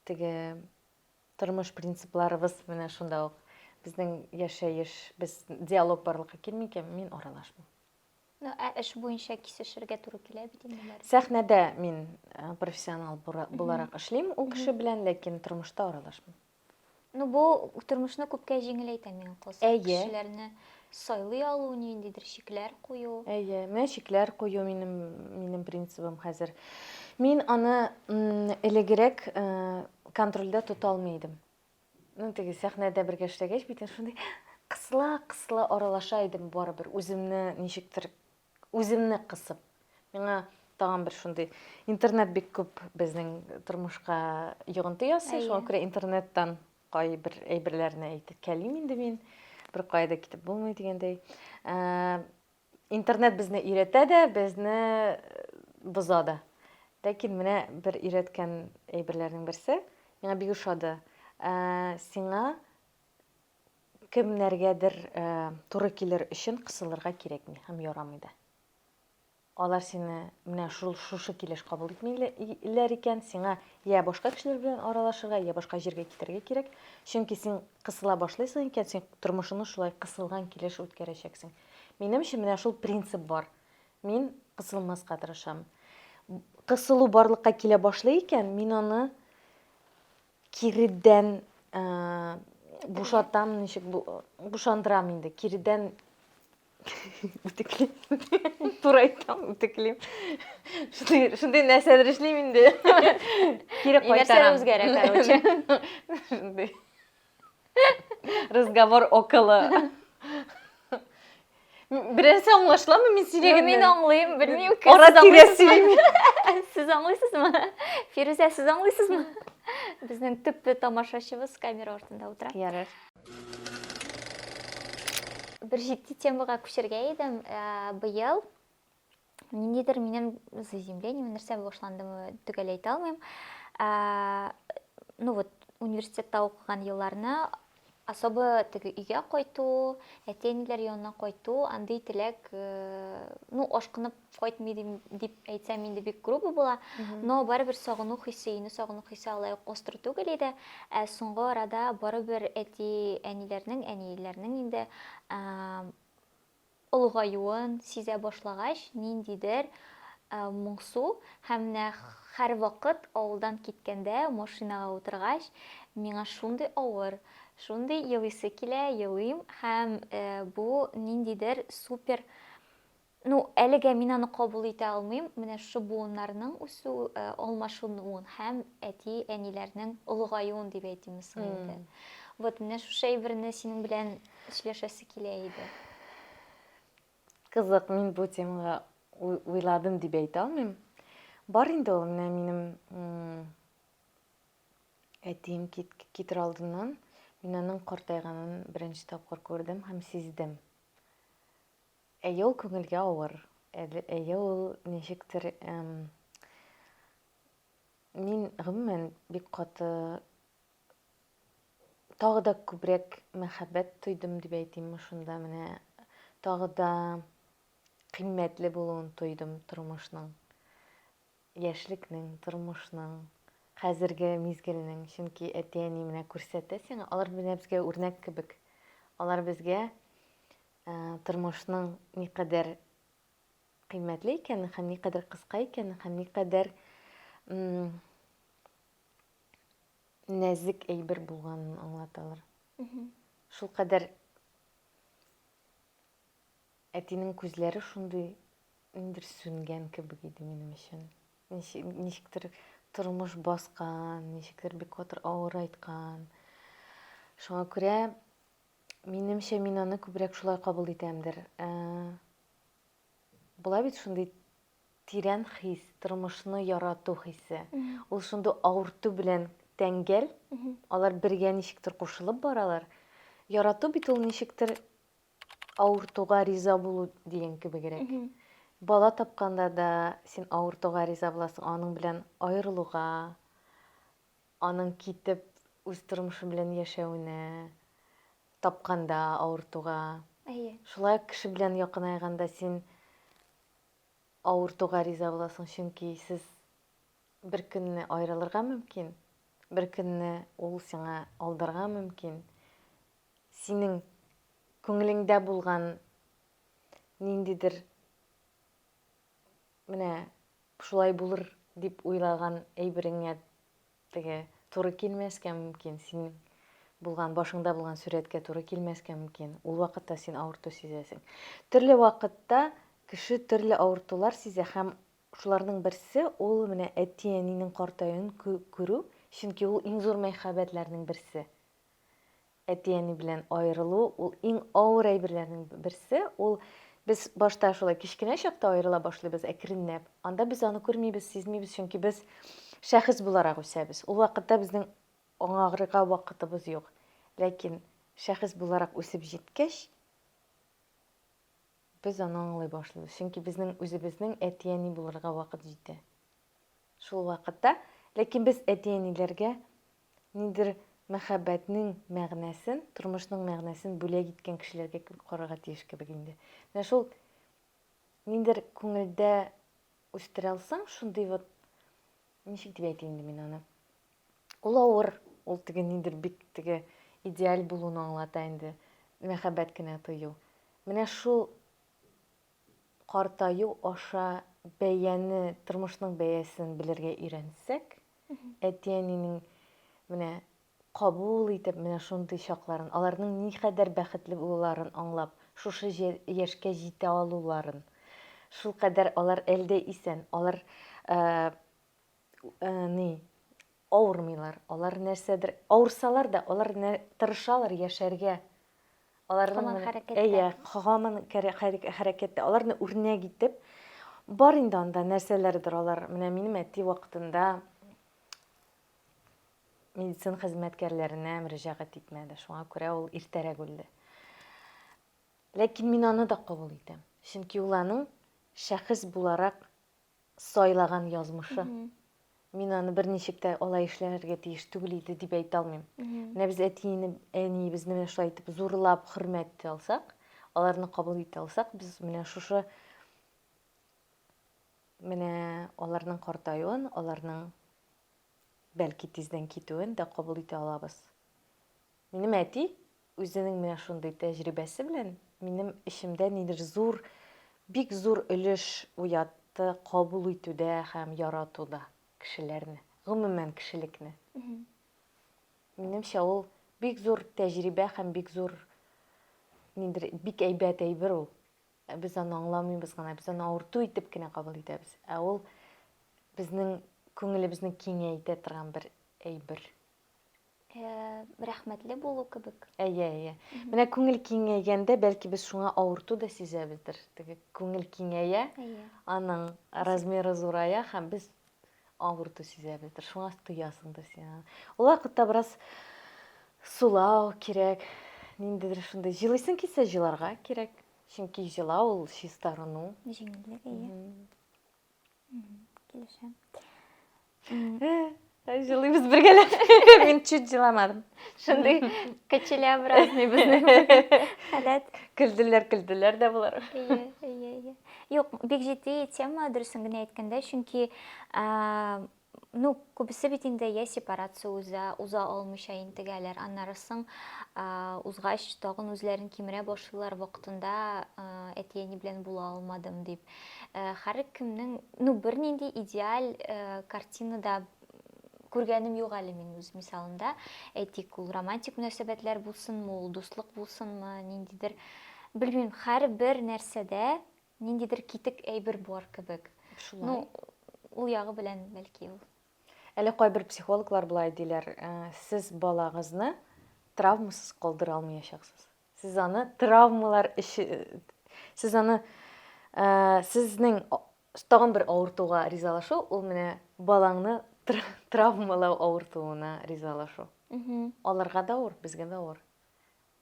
теге тормыш принципларыбыз менә шунда ук. Безнең яшәеш, без диалог барлыкка килми икән, мин аралашмыйм. Ну, ә эш буенча кисешергә туры килә бит инде нәрсә. Сәхнәдә мин э, профессионал бура- буларак эшлим ул кеше белән, ләкин тормышта аралашмыйм. Ну, бу тормышны күпкә җиңеләйтә миңа калса. Әйе. Кешеләрне сайлый алу, ниндидер шикләр кую. Әйе, менә шикләр кую минем минем принцибым хәзер. Мин аны м, элегрәк э, контрольдә тота алмый идем. Ну, теге сәхнәдә бергә эшләгәч, битен шундый кысыла-кысыла аралаша идем барыбер, үземне ничектер, үземне кысып. Миңа тагын бер шундый интернет бик күп безнең тормышка йогынты ясый, Әйе. шуңа күрә интернеттан кайбер әйберләрне әйтеп кәлим инде мин. Бер кая да китеп булмый дигәндәй. Ә, Интернет безне өйрәтә дә, безне боза да. Ләкин менә бер өйрәткән әйберләрнең берсе, миңа бик ошады. Ә, сиңа кемнәргәдер ә, туры килер өчен кысылырга кирәкми һәм ярамый да. Алар сине менә шул шушы килеш кабул итмиләр икән, сиңа я башка кешеләр белән аралашырга, я башка җиргә китәргә кирәк. Чөнки син кысыла башлыйсың икән, син тормышыңны шулай кысылган килеш үткәрәчәксең. Минемчә, менә шул принцип бар. Мин кысылмаска тырышам. Кысылу барлыкка килә башлый икән, мин аны киридән э, бушатам, ничек бушандырам инде. Киридән үтеклим. Туры әйтәм, үтеклим. Шундый шундый нәрсәләр эшлим инде. Кире кайтарам. Нәрсә үзгәрә, короче. Шундый. Разговор около. Берәрсе аңлашламы мин сөйләгәннән? Мин аңлыйм, белмим. Ара тирә сөйлим. Сез аңлыйсызмы? Фирүзә, сез аңлыйсызмы? Безнең төпле тамашачыбыз камера артында утыра. Ярар. Бер җитди темага күчергә идем. Ә, быел ниндидер минем заземление нәрсә башландымы төгәл әйтә алмыйм ә, ну вот университетта укыган елларны особо теге өйгә кайту әти әниләр янына кайту андый теләк э, ну ашкынып кайтмый дим- дип әйтсәм инде бик грубо була но барыбер сагыну хисе өйне сагыну хисе алай ук остро түгел иде ә соңгы арада барыбер әти әниләрнең әниләрнең инде ә, олыгаюын сизә башлагач, ниндидер моңсу һәм менә һәрвакыт авылдан киткәндә машинага утыргач, миңа шундый авыр, шундый елыйсы килә, елыйм һәм бу ниндидер супер Ну, әлегә мин аны кабул итә алмыйм. Менә шушы буыннарның үсү, алмашынуын һәм әти-әниләрнең олыгаюын дип әйтимме соң инде. Вот менә шушы әйберне синең белән Эшләшәсе килә иде. Кызык, мин бу темага уйладым дип әйтә алмыйм. Бар инде ул менә минем әтием китер алдыннан мин аның картайганын беренче тапкыр күрдем һәм сиздем. Әйе, ул күңелгә авыр. Әйе, ул ничектер мин гомумән бик каты тагы да күбрәк мәхәббәт тойдым дип әйтимме шунда менә тагы да кыйммәтле булуын тойдым тормышның яшьлекнең тормышның хәзерге мизгелнең чөнки әти әни менә күрсәтә сиңа алар менә безгә үрнәк кебек алар безгә ә, тормышның никадәр кыйммәтле икәнен һәм никадәр кыска икәнен һәм никадәр нәзек әйбер булганын аңлаталар. Шул кадәр әтинең күзләре шундый ниндер сүнгән кебек иде минем өчен. Ничектер тормыш баскан, ничектер бик катыр авыр айткан. Шуңа күрә минемчә мин аны күбрәк шулай кабул итәмдер. Ә, була бит шундый Тирән хис, тормышны ярату хисе. Ул шундый авырту белән тәңгәл. Алар бергә ничектер кушылып баралар. Ярату бит ул ничектер авыртуга риза булу дигән кебегрәк. Бала тапканда да син авыртуга риза буласың, аның белән аерылуга, аның китеп үз тормышы белән яшәвенә, тапканда авыртуга. Әйе. Шулай ук кеше белән якынайганда син Авыртуга риза буласың, чөнки сез бер көнне аерылырга мөмкин, бер көнне ул сиңа алдарга мөмкин. Синең күңелеңдә булган ниндидер менә шулай булыр дип уйлаган әйбереңә Теге туры килмәскә мөмкин, синең булган, башыңда булган сурәткә туры килмәскә мөмкин. Ул вакытта син авырту сизәсең. Төрле вакытта кеше төрле авыртулар сизә һәм шуларның берсе ул менә әти-әнинең картаюын күрү, чөнки ул иң зур мәхәббәтләрнең берсе. Әти-әни белән аерылу ул иң авыр әйберләрнең берсе. Ул без башта шулай кечкенә чакта аерыла башлыйбыз әкренләп. Анда без аны күрмибез, сизмибез, чөнки без шәхес буларак үсәбез. Ул вакытта безнең аңагырга вакытыбыз юк. Ләкин шәхес буларак үсеп җиткәч, без аны аңлый башлыйбыз, чөнки безнең үзебезнең әти-әни булырга вакыт җитә. Шул вакытта, ләкин без әти-әниләргә ниндидер мәхәббәтнең мәгънәсен, тормышның мәгънәсен бүләк иткән кешеләргә кебек карарга тиеш кебек инде. Менә шул ниндидер күңелдә үстерә алсаң, шундый вот ничек дип әйтим инде мин аны. Ул авыр, ул теге ниндидер бик теге идеаль булуны аңлата инде, мәхәббәт кенә тою. Менә шул Картаю аша бәяне, тормышның бәясен белергә өйрәнсәк, әти-әнинең менә кабул итеп, менә шундый чакларын, аларның никадәр бәхетле булуларын аңлап, шушы яшькә җитә алуларын, шулкадәр алар әлдә исән, алар Ни, авырмыйлар. Алар нәрсәдер, авырсалар да, алар тырышалар яшәргә. Аларның әйе, хаман хәрәкәттә. Аларны үрнәк итеп, бар инде анда нәрсәләрдер алар. Менә минем әти вакытында медицина хезмәткәрләренә мөрәҗәгать итмәде. Шуңа күрә ул иртәрәк үлде. Ләкин мин аны да кабул итәм. Чөнки ул аның шәхес буларак сайлаган язмышы. Мин аны берничек тә алай эшләргә тиеш түгел иде дип әйтә алмыйм. Менә без әтине, әниебезне менә шулай итеп зурлап хөрмәт итә алсак, аларны кабул итә алсак, без менә шушы менә аларның картаюын, аларның бәлки тиздән китүен дә кабул итә алабыз. Минем әти Үзенең менә шундый тәҗрибәсе белән минем эчемдә нидер зур, бик зур өлеш уятты кабул итүдә һәм яратуда кешеләрне, гомумән кешелекне. Минемчә, ул бик зур тәҗрибә һәм бик зур нидер бик әйбәт әйбер ул. Ә без аны аңламыйбыз гына, без аны авырту итеп кенә кабул итәбез. Ә ул безнең күңелебезне киңәйтә торган бер әйбер. рәхмәтле булу кебек. Әйе, әйе. Менә күңел киңәйгәндә, бәлки без шуңа авырту да сизәбездер. Теге күңел киңәя, аның размеры зурая һәм без авырту сизәбездер. Шуңа тоясыңдыр син аны. Ул вакытта бераз сулау кирәк. Ниндидер шундый җылыйсың килсә, җыларга кирәк. Чөнки җылау ул чистарыну. Җиңеллек, әйе. Килешәм. Җылыйбыз бергәләп. Мин чуть җыламадым. Шундый кочелябразный безнең халәт. Көлделәр, көлделәр дә булар. Ие, ие, ие. Юк, бик җитди тема, дөресен генә әйткәндә, чөнки Ну, күбесе бит инде я сепарация уза, уза алмыйча интегәләр, аннары соң а, узгач тагын үзләрен кимерә башлыйлар вакытында а, әти-әни белән була алмадым дип. Э, Һәр кемнең, ну, бернинди идеаль э, картина да күргәнем юк әле мин үз мисалымда. Әйтик, ул романтик мөнәсәбәтләр булсынмы, ул дуслык булсынмы, ниндидер, белмим, һәрбер нәрсәдә ниндидер китек әйбер бар кебек. Шулай. Ну, ул ягы белән бәлки ул. Әле кайбер психологлар болай диләр, э, сез балагызны травмасыз калдыра алмаячаксыз. Сез аны травмалар эше сез аны э, сезнең тагын бер авыртуга ризалашу, ул менә балаңны травмалау авыртуына ризалашу. Аларга да авыр, безгә дә авыр.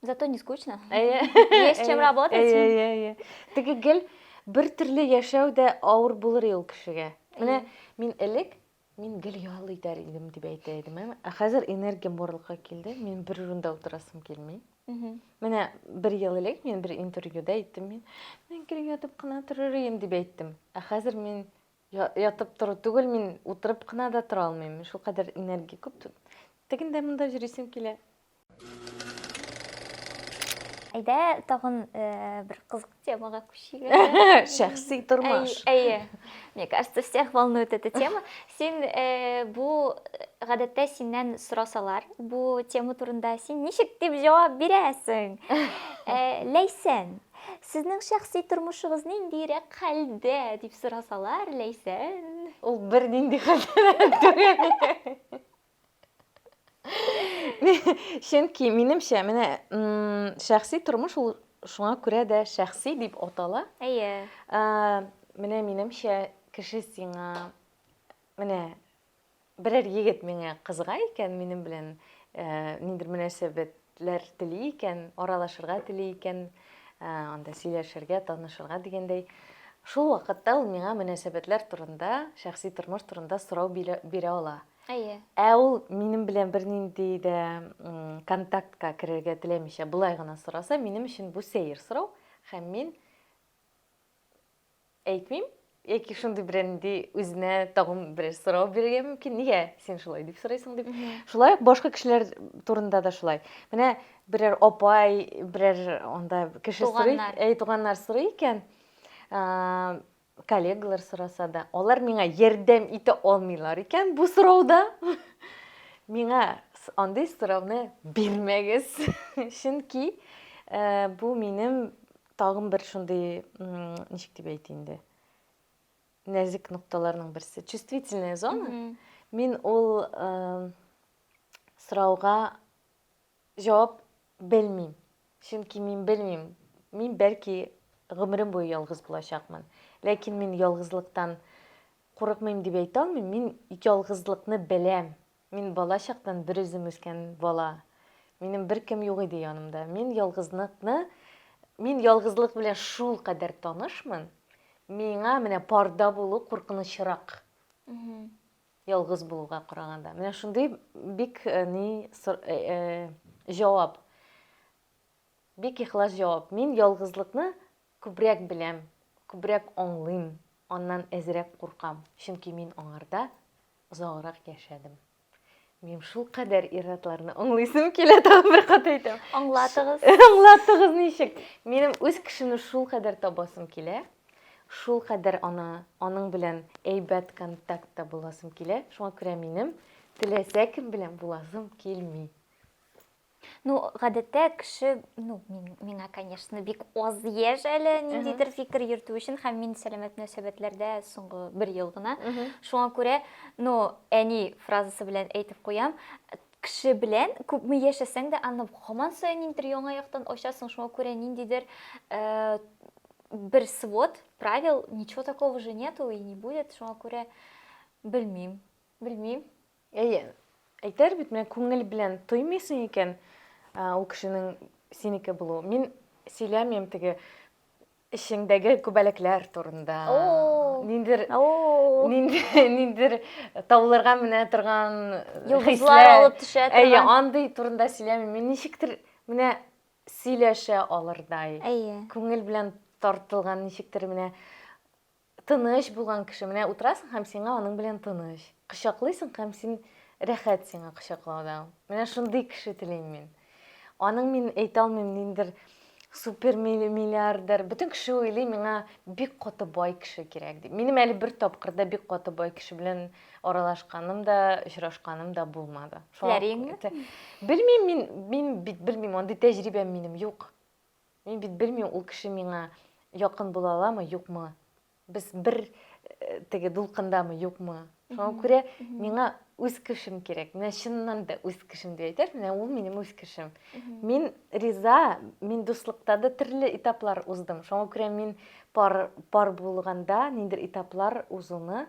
Зато не скучно. Есть чем работать. Әйе, Теге гел бер төрле яшәү дә авыр булыр ул кешегә. Менә мин элек мин гел ял итәр идем дип әйтә идем. Ә хәзер энергиям барлыкка килде. Мин бер урында утырасым килми. Менә бер ел элек мин бер интервьюда әйттем мин. Мин гел ятып кына торыр идем дип әйттем. Ә хәзер мин Ятып тору түгел, мин утырып кына да тора алмыйм. Шул кадәр энергия күп. Тегин дә монда җөрисем килә. Әйдә, тагын бер кызык темага күчик. Шәхси тормыш. Әйе. Мне кажется, всех волнует эта тема. Син бу гадәттә синнән сорасалар, бу тема турында син ничек дип җавап бирәсең? Ләйсән. Сезнең шәхси тормышыгыз ниндиерәк хәлдә, дип сорасалар, Ләйсән? Ул бернинди хәлдә түгел. Чөнки, минемчә, менә шәхси тормыш ул шуңа күрә дә шәхси дип атала. Әйе. Менә минемчә, кеше сиңа менә Берәр егет миңа кызыга икән, минем белән ниндидер мөнәсәбәтләр тели икән, аралашырга тели икән, анда сөйләшергә, танышырга дигәндәй, шул вакытта ул миңа мөнәсәбәтләр турында, шәхси тормыш турында сорау бирә ала. Әйе. Ә ул минем белән бернинди дә контактка керергә теләмичә, болай гына сораса, минем өчен бу сәер сорау, һәм мин Әйтмим, яки шундый бер нинди үзенә тагын бер сорау бирергә мөмкин, нигә син шулай дип сорыйсың дип. Шулай ук башка кешеләр турында да шулай. Менә берәр апай, берәр анда кеше сорый, әй туганнар сорый икән, коллегалар сораса да, алар миңа ярдәм итә алмыйлар икән бу сорауда. Миңа андый сорауны бирмәгез. Чөнки бу минем Тагын бер шундый, ничек дип әйтә инде, нәзек нокталарның берсе, чувствительная зона. Мин ул сорауга җавап белмим. Чөнки мин белмим, мин бәлки гомерем буе ялгыз булачакмын. Ләкин мин ялгызлыктан курыкмыйм дип әйтә алмыйм. Мин ялгызлыкны беләм. Мин бала чактан берүзем үскән бала. Минем беркем юк иде янымда. Мин ялгызлыкны, мин ялгызлык белән шулкадәр танышмын, миңа менә парда булу куркынычрак. Ялгыз булуга караганда. Менә шундый бик э, ни э, э, җавап. Бик ихлас җавап. Мин ялгызлыкны күбрәк беләм, күбрәк аңлыйм, аннан әзрәк куркам, чөнки мин аңарда Озаграк яшәдем. Минем шулкадәр ир-атларны аңлыйсым килә, тагын бер кат әйтәм. Аңлатыгыз. Аңлатыгыз ничек? Минем үз кешене шулкадәр табасым килә, шулкадәр аны, аның белән әйбәт контактта буласым килә. Шуңа күрә минем теләсә кем белән буласым килми. Ну, гадәттә кеше, ну, мин, миңа, конечно, бик аз яшь әле ниндидер фикер йөртү өчен, һәм мин сәламәт мөнәсәбәтләрдә соңгы бер ел гына. Шуңа күрә, ну, әни фразасы белән әйтеп куям, кеше белән күпме яшәсәң дә, аны һаман саен ниндидер яңа яктан ачасың, шуңа күрә ниндидер э, бер свод правил, ничего такого же нету и не будет, шуңа күрә белмим, белмим. Әйе. Әйтәр бит, менә күңел белән тоймыйсың икән, ул кешенең синеке булуы. Мин сөйләмим теге эчеңдәге күбәләкләр турында. Ниндер ниндер тауларга менә торган хисләр алып төшә торган. Әйе, андый турында сөйләмим. Мин ничектер менә сөйләшә алырдай. Әйе. Күңел белән тартылган ничектер менә Тыныч булган кеше, менә утырасың һәм сиңа аның белән тыныч. Кочаклыйсың һәм син рәхәт сиңа кочаклауда. Менә шундый кеше телим мин. Аның мин әйтә алмыйм ниндер супер миллиардер. Бөтен кеше уйлый миңа бик каты бай кеше кирәк дип. Минем әле бер тапкырда бик каты бай кеше белән аралашканым да, очрашканым да булмады. Ләреңме? Белмим мин, мин бит белмим, андый тәҗрибәм минем юк. Мин бит белмим, ул кеше миңа якын була аламы, юкмы. Без бер э, теге дулкындамы, юкмы. Шуңа күрә миңа үз кешем кирәк. Менә чыннан да үз кешем дип әйтәр, менә ул минем үз кешем. Мин риза, мин дуслыкта да төрле этаплар уздым. Шуңа күрә мин пар, пар булганда ниндер этаплар узуны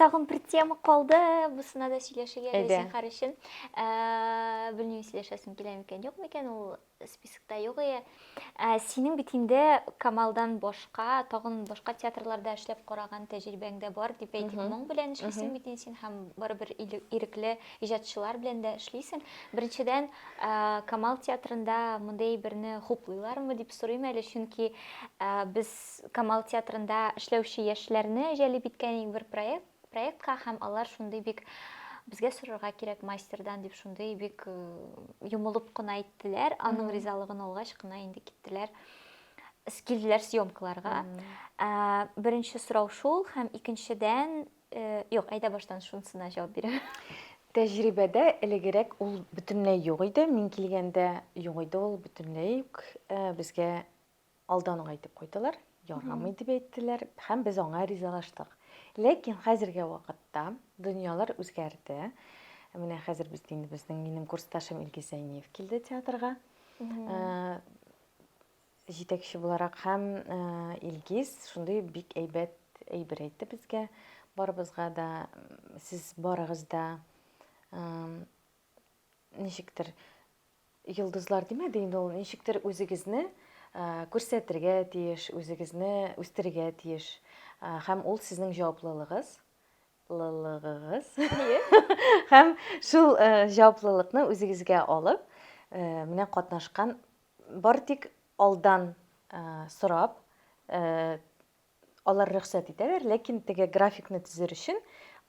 Тагын бер тема калды, бусына да сөйләшергә дә зинхар өчен. Ә, белмим, сөйләшәсем килә микән, юк микән, ул спискта юк ие. Ә, синең бит инде Камалдан башка, тагын башка театрларда эшләп караган тәҗрибәң дә бар, дип әйтик. Моң белән эшлисең бит син һәм барыбер ирекле иҗатчылар белән дә эшлисең. Беренчедән, Камал театрында мондый берне хуплыйлармы дип сорыйм әле, чөнки без Камал театрында эшләүче яшьләрне җәлеп иткән иң бер проект, проектка һәм алар шундый бик безгә сорарга кирәк мастердан дип шундый бик э, йомылып кына әйттеләр. Аның ризалыгын алгач кына инде киттеләр килделәр съемкаларга. Ә, беренче сорау шул һәм икенчедән, э, юк, әйдә баштан шунысына җавап бирәм. Тәҗрибәдә элегерәк ул бөтенләй юк иде. Мин килгәндә юк иде ул бөтенләй үк. Э, безгә Алдан гайтеп куйдылар, ярамый дип әйттеләр һәм без аңа ризалаштык. Ләкин хәзерге вакытта дөньялар үзгәрде. Менә хәзер без инде безнең минем курсташым Илгиз Зәйниев килде театрга. Э, җитәкче буларак һәм э, Илгиз шундый бик әйбәт әйбер әйтте безгә. Барыбызга да сез барыгыз да ничектер Йолдызлар димәде инде ул, ничектер үзегезне күрсәтергә тиеш, үзегезне үстерергә тиеш. Һәм ул сезнең җаваплылыгыз, лылыгыгыз. Һәм шул җаваплылыкны үзегезгә алып, менә катнашкан бар тик алдан сорап, Алар рөхсәт итәләр, ләкин теге графикны төзер өчен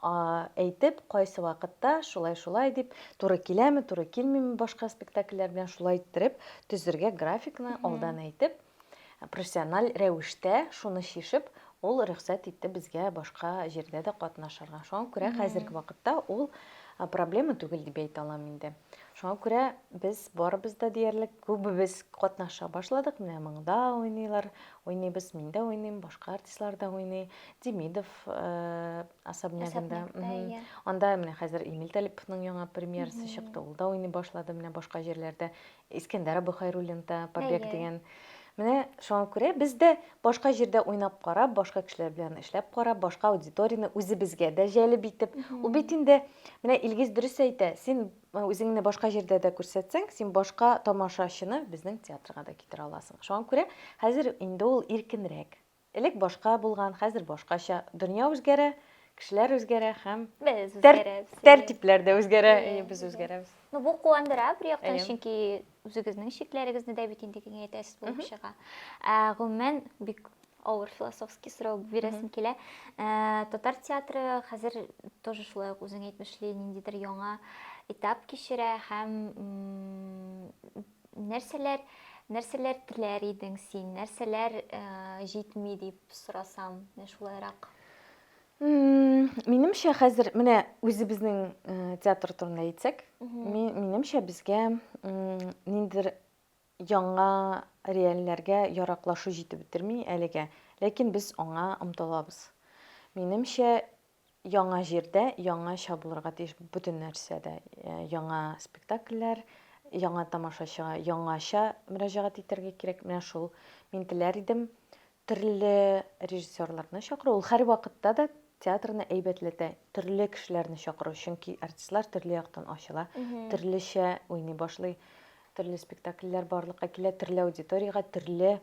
әйтеп, кайсы вакытта шулай-шулай дип, туры киләме, туры килмиме башка спектакльләр белән шулай иттереп төзергә графикны алдан әйтеп, профессиональ рәвештә шуны чишеп, ул рөхсәт итте безгә башка җирдә дә катнашырга. Шуңа күрә хәзерге вакытта ул проблема түгел дип әйтә алам инде. Шуңа күрә без барыбыз да диярлек күбебез катнаша башладык. Менә монда уйныйлар, Уйныйбыз, мин дә уйныйм, башка артистлар да уйный. Демидов особнягында. Анда менә хәзер Эмиль Талиповның яңа премьерасы чыкты. Ул да уйный башлады менә башка җирләрдә. Искәндәр Абыхайруллин да Побег дигән. Менә шуңа күрә без дә башка җирдә уйнап карап, башка кешеләр белән эшләп карап, башка аудиторияне үзебезгә дә җәлеп итеп. Ул бит инде менә Илгиз дөрес әйтә. Син Үзеңне башка җирдә дә күрсәтсәң, син башка тамашачыны безнең театрга да китерә аласың. Шуңа күрә хәзер инде ул иркенрәк. Элек башка булган, хәзер башкача. Дөнья үзгәрә, кешеләр үзгәрә һәм тәртипләр дә үзгәрә. Без үзгәрәбез. Бу куандыра, бер яктан, чөнки Үзегезнең чикләрегезне дә бит инде киңәйтәсез булып чыга. Ә, гомумән, бик авыр философский сорау бирәсем килә. Ә, татар театры хәзер тоже шулай ук үзең әйтмешли ниндидер яңа этап кичерә һәм нәрсәләр нәрсәләр теләр идең син, нәрсәләр ә, җитми дип сорасам, менә шулайрак. Минемчә, хәзер менә үзебезнең театр турында әйтсәк, минемчә безгә ниндидер яңа реальләргә яраклашу җитеп бетерми әлегә. Ләкин без аңа омтылабыз. Минемчә, яңа җирдә яңача булырга тиеш бөтен нәрсәдә. Э, яңа спектакльләр, яңа тамашачыга яңача мөрәҗәгать итәргә кирәк. Менә шул мин теләр идем. Төрле режиссерларны чакыру, ул һәрвакытта да театрны әйбәтләтә. Төрле кешеләрне чакыру, чөнки артистлар төрле яктан ачыла, төрлечә уйный башлый, төрле спектакльләр барлыкка килә, төрле аудиториягә төрле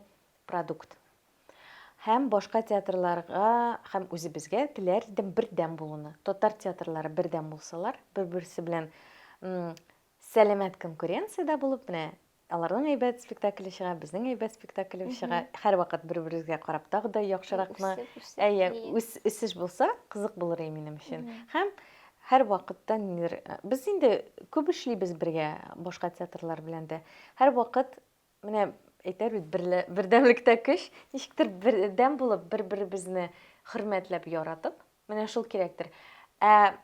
продукт. Һәм башка театрларга һәм үзебезгә теләр идем бердәм булуны. Татар театрлары бердәм булсалар, бер-берсе белән сәламәт конкуренциядә булып, менә Аларның әйбәт спектакле чыга, безнең әйбәт спектаклебез чыга. Һәрвакыт бер-беребезгә карап тагы да яхшыракны, әйе, үсеш булса, кызык булыр иде минем өчен. Һәм һәрвакытта нидер без инде күп эшлибез бергә башка театрлар белән дә. Һәрвакыт менә әйтәр бит бердәмлектә көч, ничектер бердәм булып, бер-беребезне хөрмәтләп, яратып, Менә шул кирәктер. Ә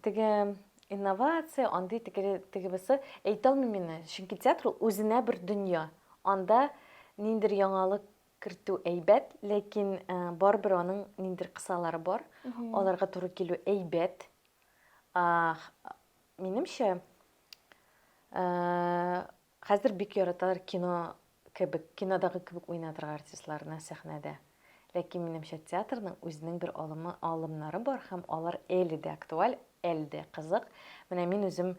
теге инновация, андый теге теге бусы әйтә алмыйм инде, чөнки театр ул үзенә бер дөнья. Анда ниндер яңалык кертү әйбәт, ләкин э, барыбер аның ниндер кысалары бар. Аларга туры килү әйбәт. А, х- минемчә, э, Хәзер бик яраталар кино кебек, кинодагы кебек уйнатырга артистларны сәхнәдә. Ләкин минемчә театрның үзенең бер алымы, алымнары бар һәм алар әле дә актуаль, әле дә кызык. Менә мин үзем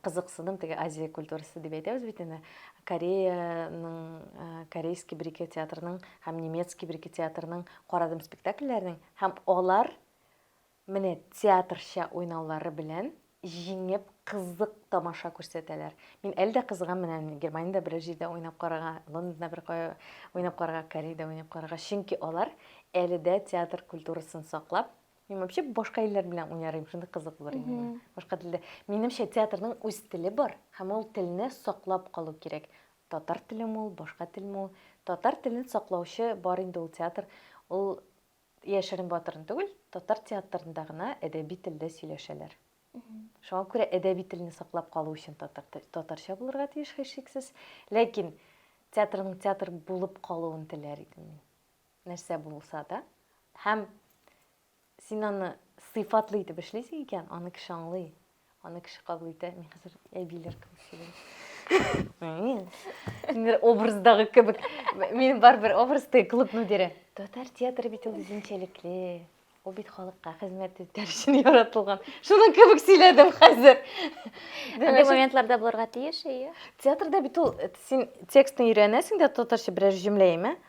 кызыксыдым, теге Азия культурасы дип әйтәбез бит инде, Кореяның, корейский бер-ике театрының һәм немецкий бер-ике театрының карадым спектакльләрен һәм алар Менә театрча уйнаулары белән җиңеп кызык тамаша күрсәтәләр. Мин әле дә кызыгам менә Германиядә берәр җирдә уйнап карарга, Лондонда бер кая уйнап карарга, Кореядә уйнап карарга, чөнки алар әле дә театр культурасын саклап, мин вообще башка илләр белән уйнарым, шундый кызык булыр иде миңа. Башка телдә. Минемчә театрның үз теле бар һәм ул телне саклап калу кирәк. Татар телеме ул, башка телме ул, татар телен саклаучы бар инде ул театр, ул Яшерен батырын түгел, татар театрында гына әдәби телдә сөйләшәләр. Шуңа күрә әдәби телне саклап калу өчен татар татарча булырга тиеш һичшиксез. Ләкин театрның театр булып калуын теләр идем мин. Нәрсә булса да. Һәм син аны сыйфатлы итеп эшлисең икән, аны кеше аңлый. Аны кеше кабул итә, мин хәзер әбиләр кебек сөйләйм. Мин образдагы кебек. Мин барбер образда клуб мөдире. Татар театры бит ул үзенчәлекле. Ул бит халыкка хезмәт итәр өчен яратылган. Шуның кебек сөйләдем хәзер. Андый моментларда булырга тиеш, әйе. Театрда бит ул син текстны өйрәнәсең дә татарча берәр җөмлә имә. Э?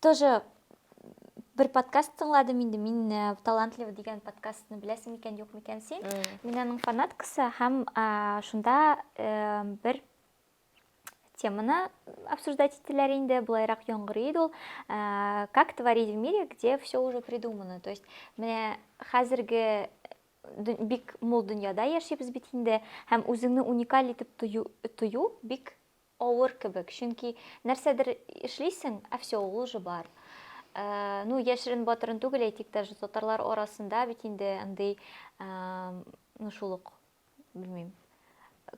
тоже бер подкаст тыңладым инде мин э, талантлива дигән подкастны беләсең микән юк микән син мин аның фанаткасы һәм шунда э, бер теманы обсуждать ителәр инде былайрак яңгырый иде ул э, как творить в мире где все уже придумано то есть менә хәзерге бик мул дөньяда яшибез бит инде һәм үзеңне уникаль итеп тою, тою бик Авыр кебек, чөнки нәрсәдер эшлисең, ә все, ул уже бар. Ну, яшерен батырын түгел, әйтик, даже татарлар арасында бит инде андый, ну, шул ук, белмим,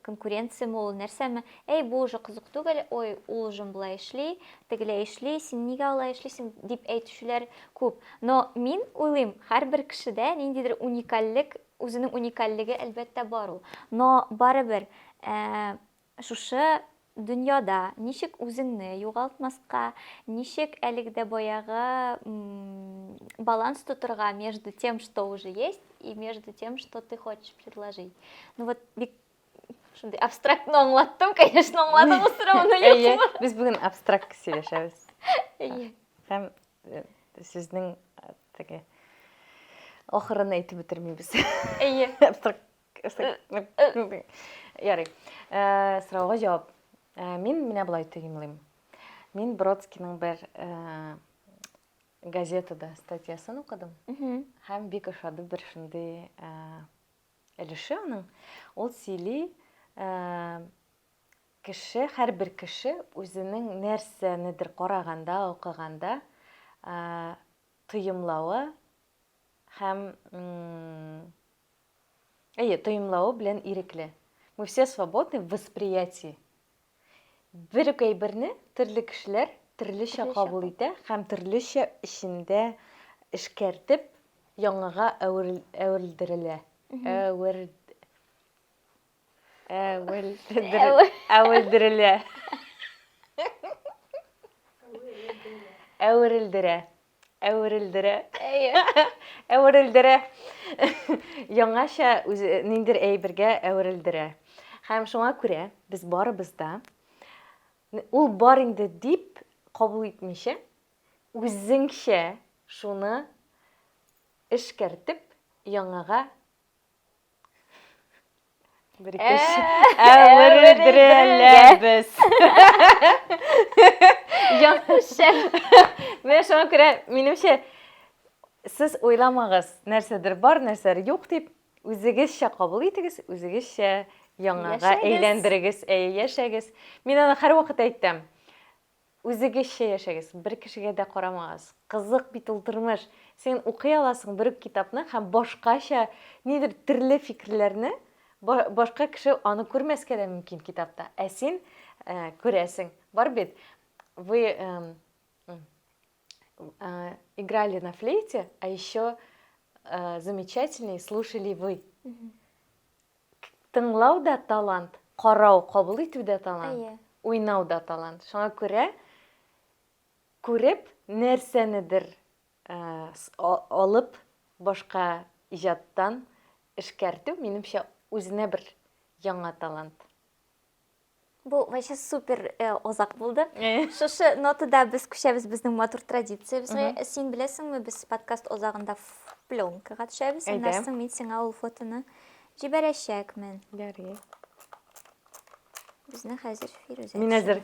конкуренция ме ул, нәрсәме, әй, бу уже кызык түгел, ой, ул уже болай эшли, тегеләй эшли, син нигә алай эшлисең, дип әйтүчеләр күп. Но мин уйлыйм, һәрбер кешедә ниндидер уникальлек, үзенең уникальлеге, әлбәттә, бар ул. Но барыбер, Шушы дөньяда ничек үзеңне югалтмаска, ничек әлеге дә баягы баланс тотырга между тем, что уже есть, и между тем, что ты хочешь предложить. Ну вот бик шундый абстрактно аңлаттым, конечно, аңладыңыз сорауны юкмы? Без бүген абстракт сөйләшәбез. Әйе. Һәм э, сезнең э, теге ахырын әйтеп бетермибез. Әйе. Абстракт Ярый. Э, сорауга җавап. Э, мин менә болай төгенлим. Мин Бродскийның бер э, газетада статьясын укыдым. Һәм бик ошады бер шундый өлеше аның. Ул сөйли, кеше, һәрбер кеше үзенең нәрсәнедер караганда, укыганда тоемлавы һәм Әйе, тоемлавы белән ирекле. Мы все свободны в восприятии. Бер үк әйберне төрле кешеләр төрлечә Төрлечә кабул кабул. итә һәм төрлечә эчендә эшкәртеп яңага әверел- әверелдерелә. Әверд- Әвел. Әвелдерелә. Әверелдерә. Әверелдерә. Әверелдерә. Яңаша үзе ниндер әйбергә әверелдерә. Хәм шуңа күрә без барыбыз да ул бар инде дип кабул итмичә, үзеңчә шуны эшкәртеп яңага Бер икеш. Ә, бер өздереләбез. Яхшы. Менә шуңа күрә, минемчә, сез уйламагыз, нәрсәдер бар, нәрсәдер юк дип, үзегезчә кабул итегез, үзегезчә яңага әйләндерегез, әйе, яшәгез. Мин аны һәрвакыт әйтәм. Үзегезчә яшәгез, бер кешегә дә карамагыз. Кызык бит ул тормыш. Син укый аласың бер үк китапны һәм башкача нидер терле фикерләрне, башка кеше аны күрмәскә дә мөмкин китапта, ә син күрәсең. Бар бит, вы играли на флейте, а еще замечательней слушали вы. Тыңлау да талант, карау, кабул итү дә талант, уйнау да талант. Шуңа күрә күреп нәрсәнедер алып башка иҗаттан эшкәртү, минемчә, үзенә бер яңа талант. Бу вообще супер э, озак булды. Э. Шушы нотада без күчәбез безнең матур традициябезгә. Син беләсеңме, без подкаст озагында ф- пленкага төшәбез. Әйдә. Аннан соң мин сиңа ул фотоны җибәрәчәкмен. Ярый. Безне хәзер Фирүзә. Мин әзер.